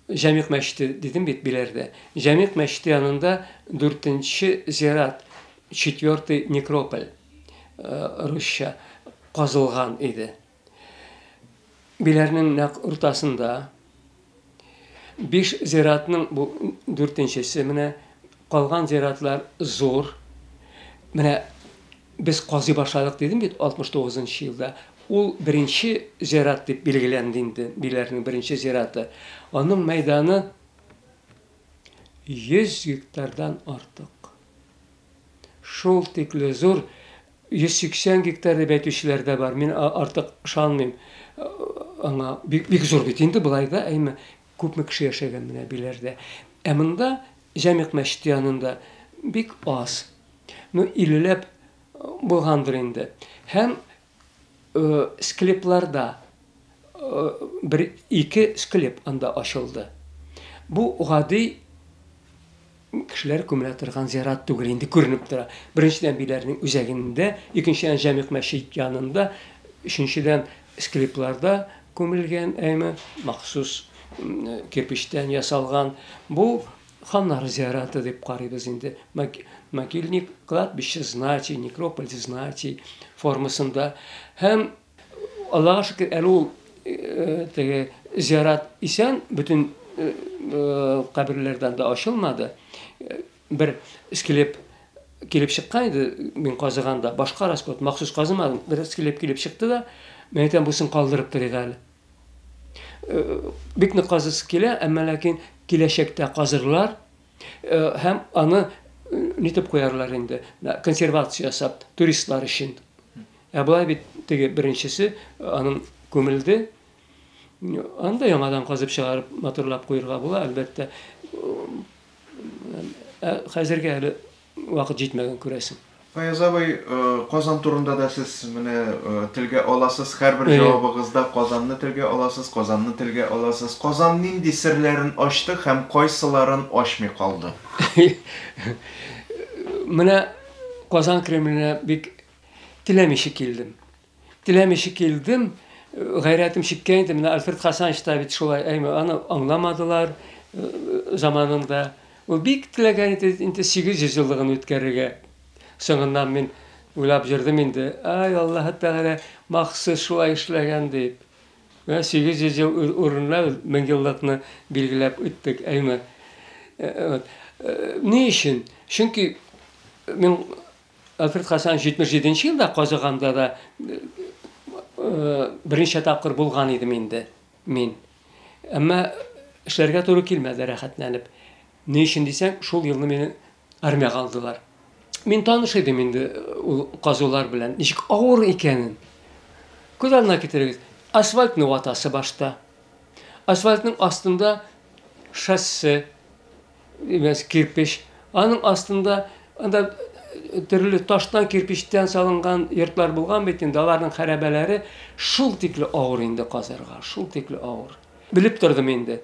Җәмигъ мәчете дидем бит Биләрдә. Җәмигъ мәчете янында дүртенче зират, четвертый некрополь, э, русча, казылган иде. Биләрнең нәкъ уртасында. Биш зиратның бу дүртенчесе менә, калган зиратлар зур. Менә Без казый башладык дидем бит, 69 нчы елда. Ул беренче зират дип билгеләнде инде, Биләрнең беренче зираты. Аның мәйданы 100 гектардан артык. Шул тикле зур, 180 гектар дип әйтүчеләр дә бар, мин артык ышанмыйм аңа. Бик зур бит инде, болай да, әйме, Күпме кеше яшәгән менә Биләрдә. Ә монда, Җәмигъ мәчете янында, бик аз. Ну, иллеләп булгандыр инде. Һәм склепларда бер-ике склеп анда ачылды. Бу гади. Кешеләр күмелә торган зират түгел инде, күренеп тора. Беренчедән, биләрнең үзәгендә, икенчедән, Җәмигъ мәчет янында, өченчедән, склепларда күмелгән, әйме, махсус кирпечтән ясалган. Бу ханнар зираты дип карыйбыз инде. Могильник, кладбище знати, некрополь знати формасында һәм Аллага шөкер, әле ул теге зиярат исән, бөтен каберләрдән дә ачылмады. Бер скелеп килеп чыккан иде, мин казыганда, башка расход, махсус казымадым, бер скелеп килеп чыкты да, мен әйтәм, бусын калдырып торыйк әле. Бик нык казысы килә, әмма ләкин киләчәктә казырлар һәм аны нитеп куярлар инде, консервация ясап, туристлар өчен. Ә болай бит теге беренчесе аның күмелде. Аны да яңадан казып чыгарып, матурлап куерга була, әлбәттә. Ә хәзергә әле вакыт җитмәгән, күрәсең. Фаяз абый, э, Казан турында да сез менә э, телгә аласыз, һәрбер Әйе. җавабыгызда Казанны телгә аласыз, Казанны телгә аласыз. Казан нинди серләрен ачты һәм кайсыларын ачмый калды? Менә Казан Кремленә бик Теләмичә килдем. Теләмичә килдем, гайрәтем чиккә инде, менә Альфред Хасанович та бит шулай, әйме, аны аңламадылар заманында. Ул бик теләгән иде инде 800 еллыгын үткәрергә. Соңыннан мин уйлап җырдым инде, ай, Аллаһы Тәгалә махсус шулай эшләгән дип. Менә 800 ел урынына мең еллыкны билгеләп үттек, әйме. Ни өчен? Чөнки мин Альфред Хасан 77 нче елда казыганда да берничә тапкыр булган идем инде мин. Әмма эшләргә туры килмәде рәхәтләнеп. Ни өчен дисәң, шул елны мине армиягә алдылар. Мин таныш идем инде ул казулар белән, ничек авыр икәнен. Күз алдына китерегез, асфальтны ватасы башта. Асфальтның астында шассе, Имәс кирпеч. Аның астында анда төрле таштан, кирпечтән салынган йортлар булган бит инде, аларның хәрәбәләре шул тикле авыр инде казырга, шул тикле авыр. Белеп тордым инде.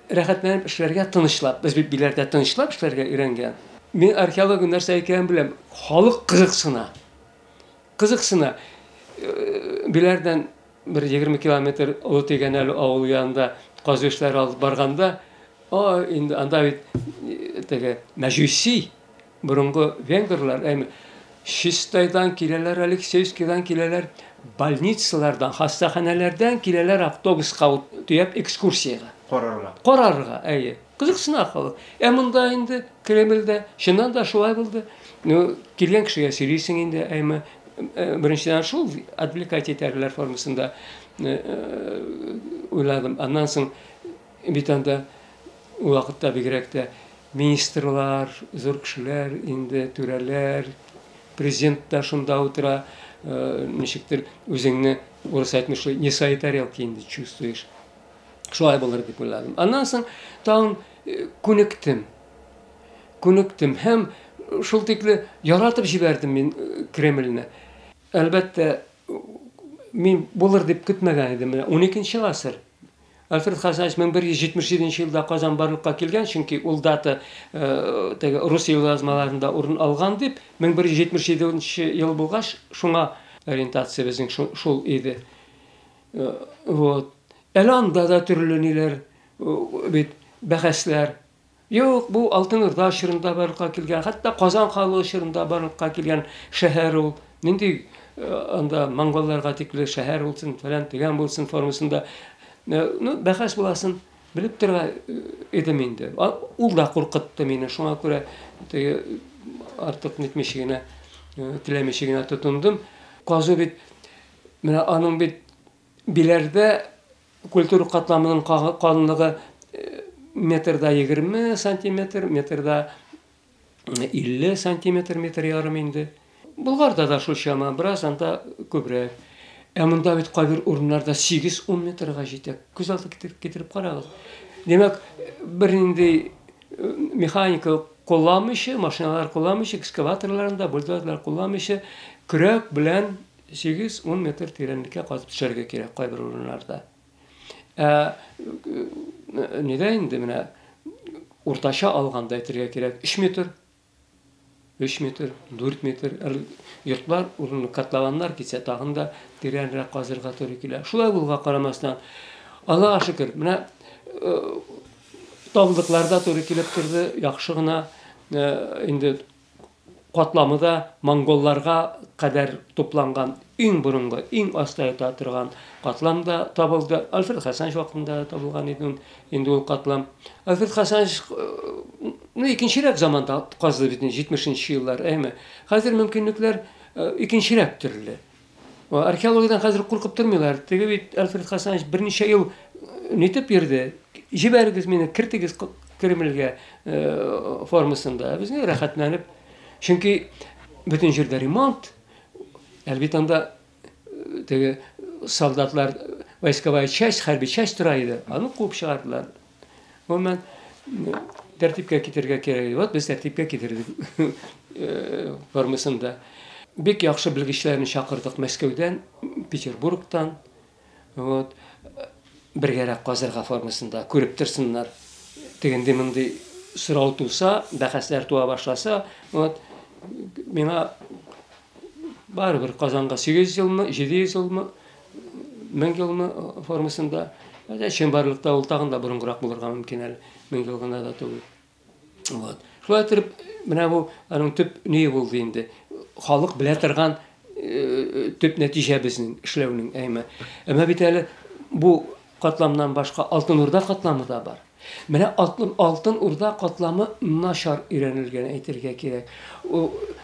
Рәхәтләнеп эшләргә, тынычлап. Без бит биләрдә тынычлап эшләргә өйрәнгән. Мин археология нәрсә икәнен беләм. Халык кызыксына. Кызыксына. Биләрдән Бер егерме километр Олы Тегәнәле авылы янында казу эшләре алып барганда, о, инде анда бит теге мәҗүси, борынгы венгрлар, әйме, Чистайдан киләләр, Алексеевскидан киләләр, больницалардан, хастаханәләрдән киләләр автобуска төяп экскурсиягә. Карарга. Карарга, әйе. Кызыксына халык. Ә монда инде, Кремльдә, чыннан да шулай булды. Ну, килгән кешегә сөйлисең инде, әйме. Э, беренчедән шул отвлекать итәрләр формасында э, уйладым. Аннан соң бит анда ул вакытта бигрәк тә министрлар, зур кешеләр, инде түрәләр, президент та шунда утыра, э, ничектер үзеңне урыс әйтмешли, не свои тарелки инде чувствуешь. Шулай булыр дип уйладым. Аннан соң тагын э, күнектем. Күнектем һәм шул тикле яратып җибәрдем мин э, Кремльне. Әлбәттә, мин булыр дип көтмәгән идем. 12 гасыр. Альфред Хасанович 1177 елда Казан барлыкка килгән, чөнки ул дата э, теге рус язмаларында урын алган дип, 1177 ел булгач, шуңа ориентация безнең шул иде. Э, вот. Әле анда да төрле ниләр э, бит бәхәсләр. Юк, бу Алтын Урда чорында барлыкка килгән, хәтта Казан ханлыгы чорында барлыкка килгән шәһәр ул. Нинди э, анда монголларга тикле шәһәр булсын, фәлән дигән булсын формасында. Ну, бәхәс буласын белеп тора идем инде. Ул да куркытты мине, шуңа күрә артык нитмичә генә, теләмичә генә тотындым. Казу бит Менә аның бит Биләрдә культура катламының калынлыгы э, метрда 20 сантиметр, метрда 50 э, сантиметр, метр ярым инде. Булгарда да шул чама, бераз анда күбрәк. Ә монда бит кайбер урыннарда 8-10 метрга җитә. Күз алды китереп, китереп карагыз. Димәк, бернинди э, механика кулланмыйча, машиналар кулланмыйча, экскаваторларында, бульдозерлар кулланмыйча, көрәк белән Сигез-ун метр тирәнлеккә казып төшәргә кирәк кайбер урыннарда. Ә нигә инде менә уртача алганда әйтергә кирәк, 3 метр 3 метр, 4 метр йортлар урын котлованнар китсә тагын да тирәнрәк казырга туры килә. Шулай булга карамастан, Аллаһка шөкер, менә э, табылдыкларда туры килеп торды, яхшы гына э, инде катламы да монголларга кадәр тупланган иң борынгы, иң аста ята торган катлам да табылды. Альфред Хасанович вакытында да табылган иде инде ул катлам. Альфред Хасанович ну, икенчерәк заманда казды бит 70 нче еллар, әйме. Хәзер мөмкинлекләр икенчерәк төрле. Археологиядән хәзер куркып тормыйлар. Теге бит Альфред Хасанович берничә ел нитеп йөрде. Җибәрегез мине, кертегез Кремльгә формасында. Без ни рәхәтләнеп. Чөнки бөтен җирдә ремонт. Әлбит анда теге солдатлар войсковая часть, хәрби часть тора иде. Аны куып чыгардылар. Гомумән, тәртипкә китерергә кирәк. Вот без тәртипкә китердек э, формасын да. Бик яхшы белгечләрне чакырдык Мәскәүдән, Петербургтан. Вот. Бергәрәк казырга формасында күреп торсыннар. Тегенди мондый сорау туса, бәхәсләр туа башласа, вот миңа барыбер Казанга 800 елмы, 700 елмы Мең елмы формасында, әдә чынбарлыкта ул тагын да борынгырак булырга мөмкин әле. Мең ел гына да түгел. Вот. Шулай итеп, менә бу аның төп ние булды инде. Халык белә торган э, төп нәтиҗә безнең эшләүнең әйме. Әмма бит әле бу катламнан башка Алтын Урда катламы да бар. Менә Алтын, Алтын Урда катламы начар өйрәнелгән әйтергә кирәк.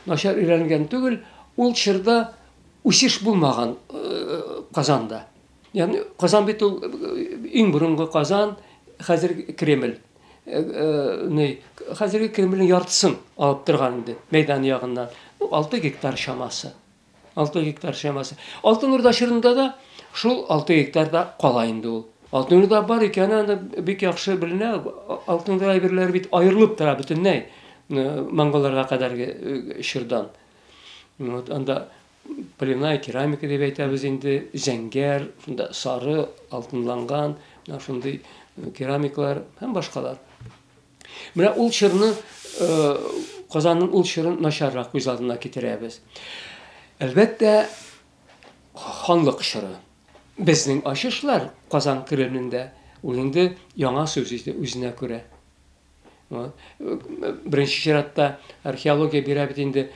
Начар өйрәнелгән түгел, ул чорда Үсеш булмаган Казанда. Ягъни Казан бит ул иң борынгы Казан, хәзерге Кремль. Ни, хәзерге Кремльнең яртысын алып торган инде мәйдан ягыннан. 6 гектар чамасы. 6 гектар чамасы. Алтын Урда чорында да шул 6 гектарда кала инде ул. Алтын Урда бар икәне анда бик яхшы беленә. Алтын Урда әйберләре бит аерылып тора бөтенләй монголларга кадәрге чордан. Вот анда полиная керамика дип әйтәбез инде, зәңгәр, шунда сары, алтынланган, менә шундый э, керамиклар һәм башкалар. Менә ул чырны э, Казанның ул чырын начаррак күз алдына китерәбез. Әлбәттә, ханлык чыры. Безнең ачышлар Казан Кремлендә ул инде яңа сүз иде үзенә күрә. Беренче чиратта археология бирә бит инде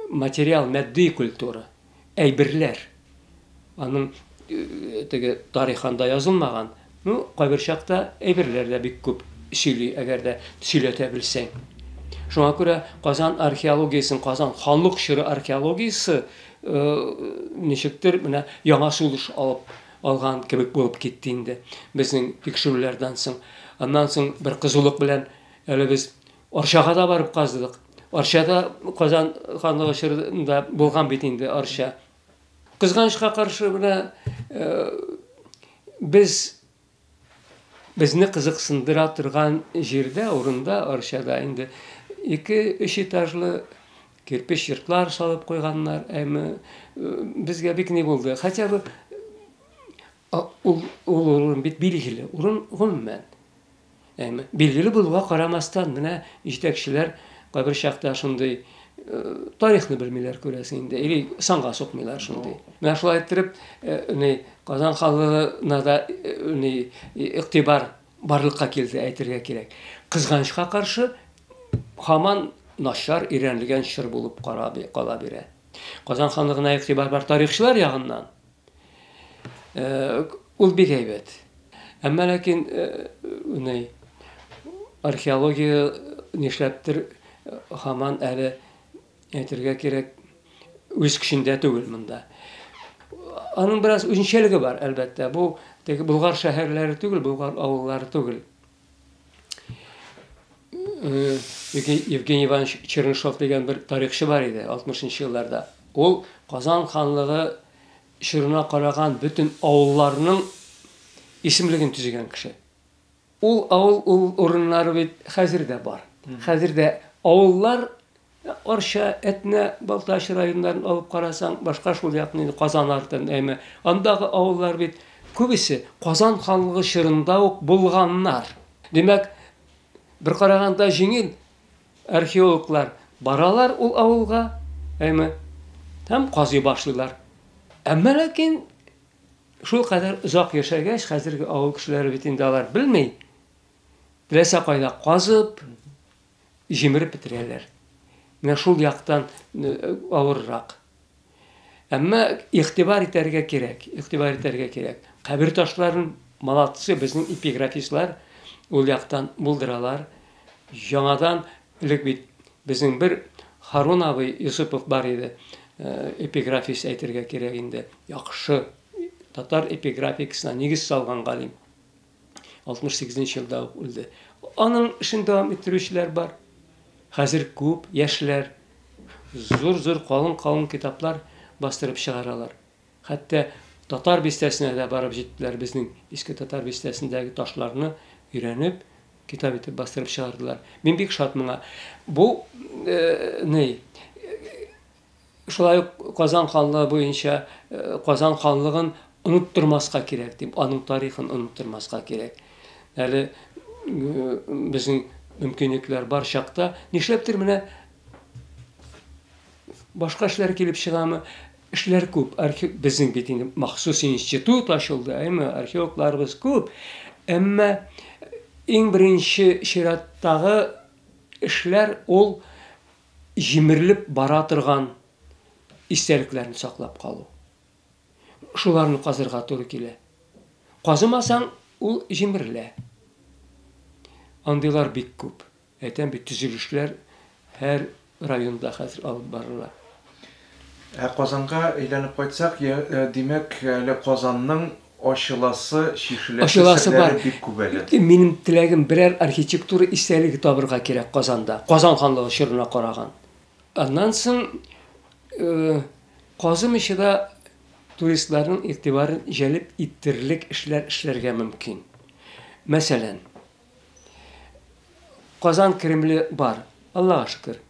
материал, матди культура, әйберләр. Аның теге тарихында язылмаган, ну, кайбер чакта әйберләр дә бик күп сөйли, әгәр дә сөйләтә белсәң. Шуңа күрә Казан археологиясен, Казан халык чоры археологиясе ничектер менә яңа сулыш алып алган кебек булып китте инде безнең тикшерүләрдән соң. Аннан соң бер кызулык белән әле без Арчага да барып казыдык. Арчада Казан ханлыгы чорында булган бит инде Арча. Кызганычка каршы менә э, без Безне кызыксындыра торган җирдә, урында, Арчада инде ике-өч этажлы кирпеч йортлар салып куйганнар. Әмма безгә бик ни булды. Хотя бы ул ул урын бит билгеле, урын гомумән. Әмма билгеле булуга карамастан, менә җитәкчеләр кайбер чакта шундый тарихны белмиләр күрәсең инде или санга сукмыйлар шундый менә шулай иттереп ни казан халына да ни игътибар барлыкка килде әйтергә кирәк кызганычка каршы һаман начар өйрәнелгән чор булып кала бирә казан ханлыгына игътибар бар тарихчылар ягыннан Ул бик әйбәт. Әмма ләкин уни археология нишләптер хаман әле әйтергә кирәк үз көчендә түгел монда. Аның бераз үзенчәлеге бар, әлбәттә. Бу теге Болгар шәһәрләре түгел, Болгар авыллары түгел. Э, Евгений Иванович Чернышов дигән бер тарихчы бар иде 60-нчы елларда. Ул Казан ханлыгы чорына караган бөтен авылларның исемлеген төзегән кеше. Ул авыл ул урыннары бит хәзер дә бар. Хәзер дә авыллар Ә Арча, Әтнә, Балтач районнарын алып карасаң, башка шул якны инде Казан артын, әйме. Андагы авыллар бит күбесе Казан ханлыгы чорында ук булганнар. Димәк, бер караганда җиңел, археологлар баралар ул авылга, әйме, һәм казый башлыйлар. Әмма ләкин шул кадәр озак яшәгәч, хәзерге авыл кешеләре бит инде алар белми, теләсә кайда казып, җимереп бетерәләр. Менә шул яктан авыррак. Әмма игътибар итәргә кирәк, игътибар итәргә кирәк. Кабер ташларын молодцы безнең эпиграфистлар ул яктан булдыралар. Яңадан элек бит безнең бер Харун абый Юсупов бар иде, эпиграфист әйтергә кирәк инде, яхшы татар эпиграфикасына нигез салган галим. 68 нче елда ук үлде. Аның эшен дәвам иттерүчеләр бар. Хәзер күп яшьләр зур-зур калын-калын китаплар бастырып чыгаралар. Хәтта Татар бистәсенә дә барып җиттеләр, безнең Иске Татар бистәсендәге ташларны өйрәнеп, китап итеп бастырып чыгардылар. Мин бик шат моңа. Бу э, ней, Шулай ук Казан ханлыгы буенча Казан ханлыгын оныттырмаска кирәк дип, аның тарихын оныттырмаска кирәк. Әле безнең мөмкинлекләр бар чакта, нишләптер менә башка эшләр килеп чыгамы? Эшләр күп. Архив безнең бит инде махсус институт ачылды, әйме? Археологларыбыз күп. Әмма иң беренче чираттагы эшләр ул җимерелеп бара торган истәлекләрне саклап калу. Шуларны казырга туры килә. Казымасаң, ул җимерелә. Андыйлар бик күп. Әйтәм бит, төзелешләр һәр районда хәзер алып барыла. Ә Казанга әйләнеп кайтсак, димәк, әле Казанның ачыласы, чишеләсе серләре бик күп әле. Ачыласы бар. Минем теләгем, берәр архитектура истәлеге табырга кирәк Казанда, Казан ханлыгы чорына караган. Аннан соң Казым ише дә туристларның игътибарын җәлеп итерлек эшләр эшләргә мөмкин. Мәсәлән, Казан Кремле бар, Аллага шөкер.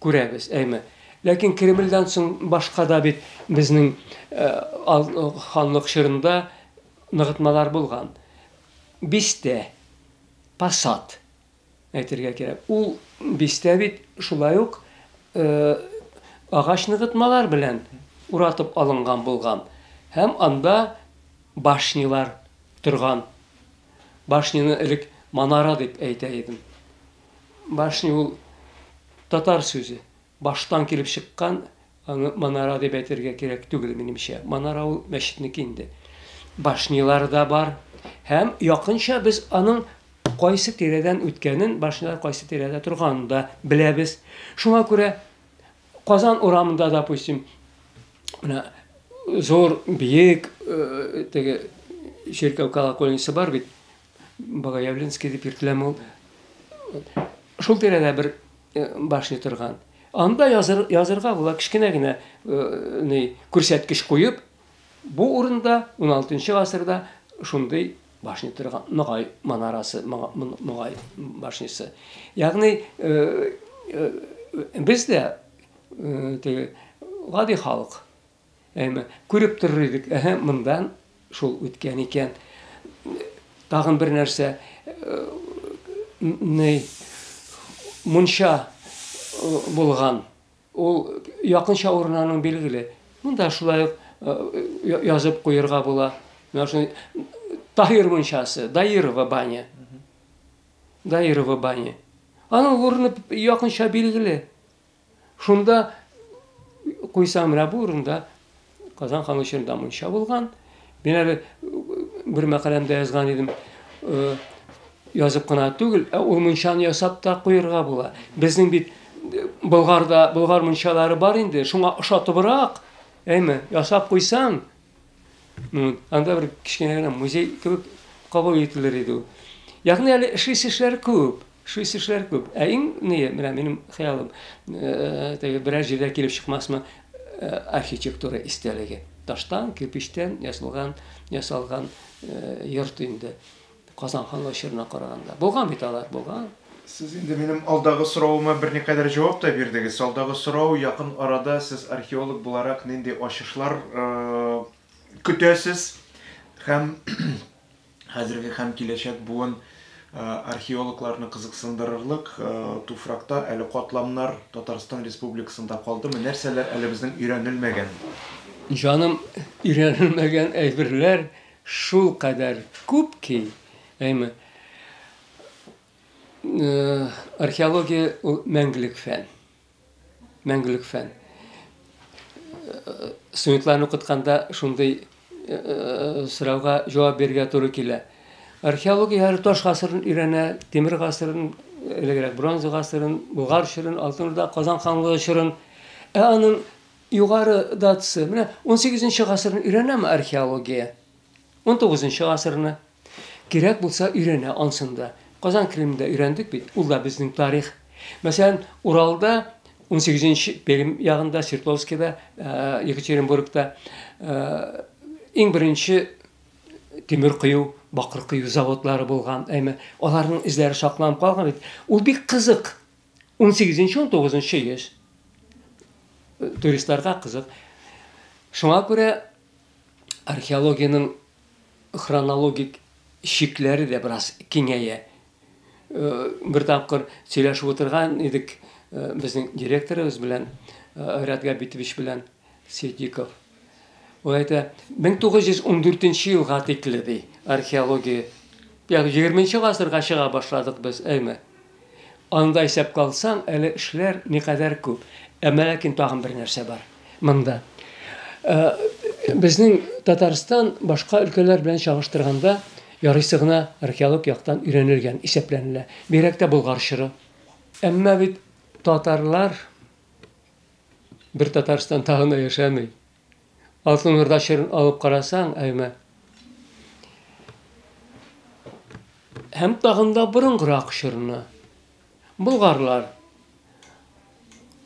Күрәбез, әйме. Ләкин Кремльдән соң башка да бит безнең ханлык чорында ныгытмалар булган. Бистә, посад әйтергә кирәк. Ул бистә бит шулай ук агач ныгытмалар белән уратып алынган булган һәм анда башнялар торган. Башняны элек манара дип әйтә идем. Башня ул татар сүзе. Баштан килеп чыккан, аны манара дип әйтергә кирәк түгел, минемчә. Манара ул мәчетнеке инде. Башнялар да бар. Һәм якынча без аның кайсы тирәдән үткәнен, башнялар кайсы тирәдә торганын да беләбез. Шуңа күрә Казан урамында, допустим, менә зур, биек теге чиркәү колокольнисе бар бит. Богоявленский дип йөртеләме ул? Шул тирәдә бер башня торган. Анда языр, язырга була, кечкенә генә ни, күрсәткеч куеп, бу урында 16 гасырда шундый башня торган, Ногай манарасы, Ногай башнясы. Ягъни без дә гади халык, Әмма күреп торыр идек, әһә, мондан шул үткән икән. Тагын бер нәрсә, ни, мунча булган. Ул якынча урынының билгеле. Монда шулай ук язып куерга була. Менә шуны Таһир мунчасы, Даирова баня. Даирова баня. Аның урыны якынча билгеле. Шунда куйсаң, менә бу урында Казан ханы чорында мунча булган. Мин әле бер мәкаләмдә язган идем, язып кына түгел, ә ул мунчаны ясап та куярга була. Безнең бит Болгарда болгар мунчалары бар инде, шуңа ошатыбрак, әйме, ясап куйсаң, Ну, анда бер кечкенә генә музей кебек кабул ителер иде ул. Ягъни әле эшлисе эшләр күп, эшлисе эшләр күп. Ә иң ние, менә минем хыялым, э, теге берәр җирдә килеп чыкмасмы, э, архитектура истәлеге. Таштан, кирпичтән ясалган, ясалган э, йорт инде. Казан хан очырына караганда. Булган бит алар, булган. Сез инде минем алдагы соравыма берникадәр җавап та бирдегез. Алдагы сорау, якын арада сез археолог буларак нинди ачышлар көтәсез һәм хәзерге һәм киләчәк буын археологларны кызыксындырырлык туфракта әле катламнар Татарстан Республикасында калдымы? Нәрсәләр әле безнең өйрәнелмәгән? Җаным, өйрәнелмәгән әйберләр Шулкадәр күп ки, әйме, археология ул мәңгелек фән. Мәңгелек фән. Студентларны укытканда шундый сорауга җавап бирергә туры килә. Археология һәр таш гасырын өйрәнә, тимер гасырын, элегрәк бронза гасырын, Болгар чорын, Алтын Урда, Казан ханлыгы чорын. Ә аның Югары датасы, менә унсигезенче гасырны өйрәнәме археология? Унтугызынчы гасырны? Кирәк булса өйрәнә ансын да. Казан Кремлендә өйрәндек бит, ул да безнең тарих. Мәсәлән, Уралда, унсигезенче Пермь ягында, Свердловскида, Екатеринбургта иң беренче тимер кою, бакыр кою заводлары булган, әйме, аларның эзләре сакланып калган бит. Ул бик кызык. 18-19 йөз туристларга кызык. Шуңа күрә археологиянең хронологик чикләре дә бераз киңәя. Бер тапкыр сөйләшеп утырган идек безнең директорыбыз белән, Айрат Габитович белән. Ситдиков. Ул әйтә, 1914 елга тикле, ди, археология, ягъни егерменче гасырга чыга башладык без, әйме? Анда исәпкә алсаң, әле эшләр никадәр күп. Әмма ләкин тагын бер нәрсә бар монда. Э, безнең Татарстан башка өлкәләр белән чагыштырганда ярыйсы гына археолог яктан өйрәнелгән исәпләнелә. Бигрәк тә Болгар чоры. Әмма бит татарлар Бер Татарстан тагын да яшәми. Алтын Урда чорын алып карасаң, әйме. Һәм тагын да борынгырак чорны. Болгарлар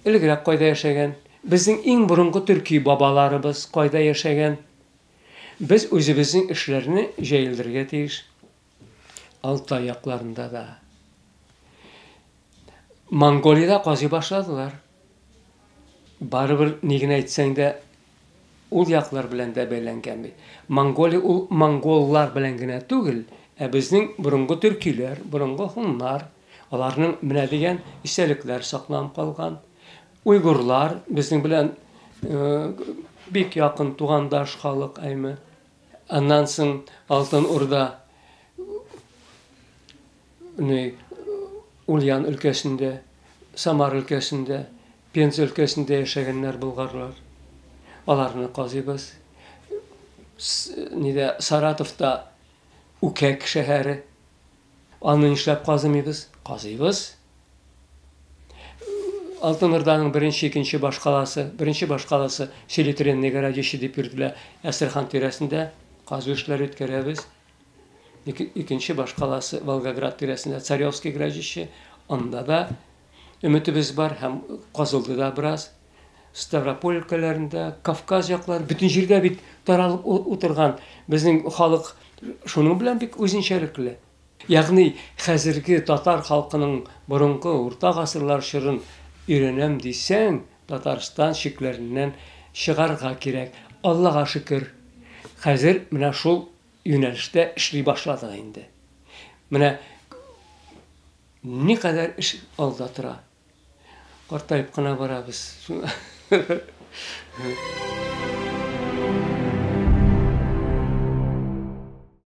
элегрәк кайда яшәгән? Безнең иң борынгы төрки бабаларыбыз кайда яшәгән? Без үзебезнең эшләрне җәелдерергә тиеш. Алтай якларында да. Монголиядә казый башладылар. Барыбер ни генә әйтсәң дә ул яклар белән дә бәйләнгән бит. Монголия ул монголлар белән генә түгел, ә безнең борынгы төркиләр, борынгы һуннар, аларның менә дигән истәлекләр сакланып калган. Уйгурлар безнең белән э, бик якын тугандаш халык, әйме. Аннан соң Алтын Урда не Ульян өлкәсендә, Самар өлкәсендә, Пенза өлкәсендә яшәгәннәр болгарлар. Аларны казыйбыз. Нидә Саратовта Үкәк шәһәре Аны нишләп казымыйбыз? Казыйбыз. Алтын Урданың беренче, икенче башкаласы, беренче башкаласы Селитренный городище дип йөртелә. Әстерхан тирәсендә казу эшләре үткәрәбез. Икенче башкаласы Волгоград тирәсендә Царевский городище, анда да Өметебез бар һәм казылды да бераз. Ставрополь өлкәләрендә, Кавказ яклары, бөтен җирдә бит таралып утырган безнең халык шуның белән бик үзенчәлекле. Ягъни хәзерге татар халкының борынгы урта гасырлар чорын өйрәнәм дисәң, Татарстан чикләреннән чыгарга кирәк. Аллага шөкер, хәзер менә шул юнәлештә эшли башладык инде. Менә Никадәр эш алда тора. Картаеп кына барабыз.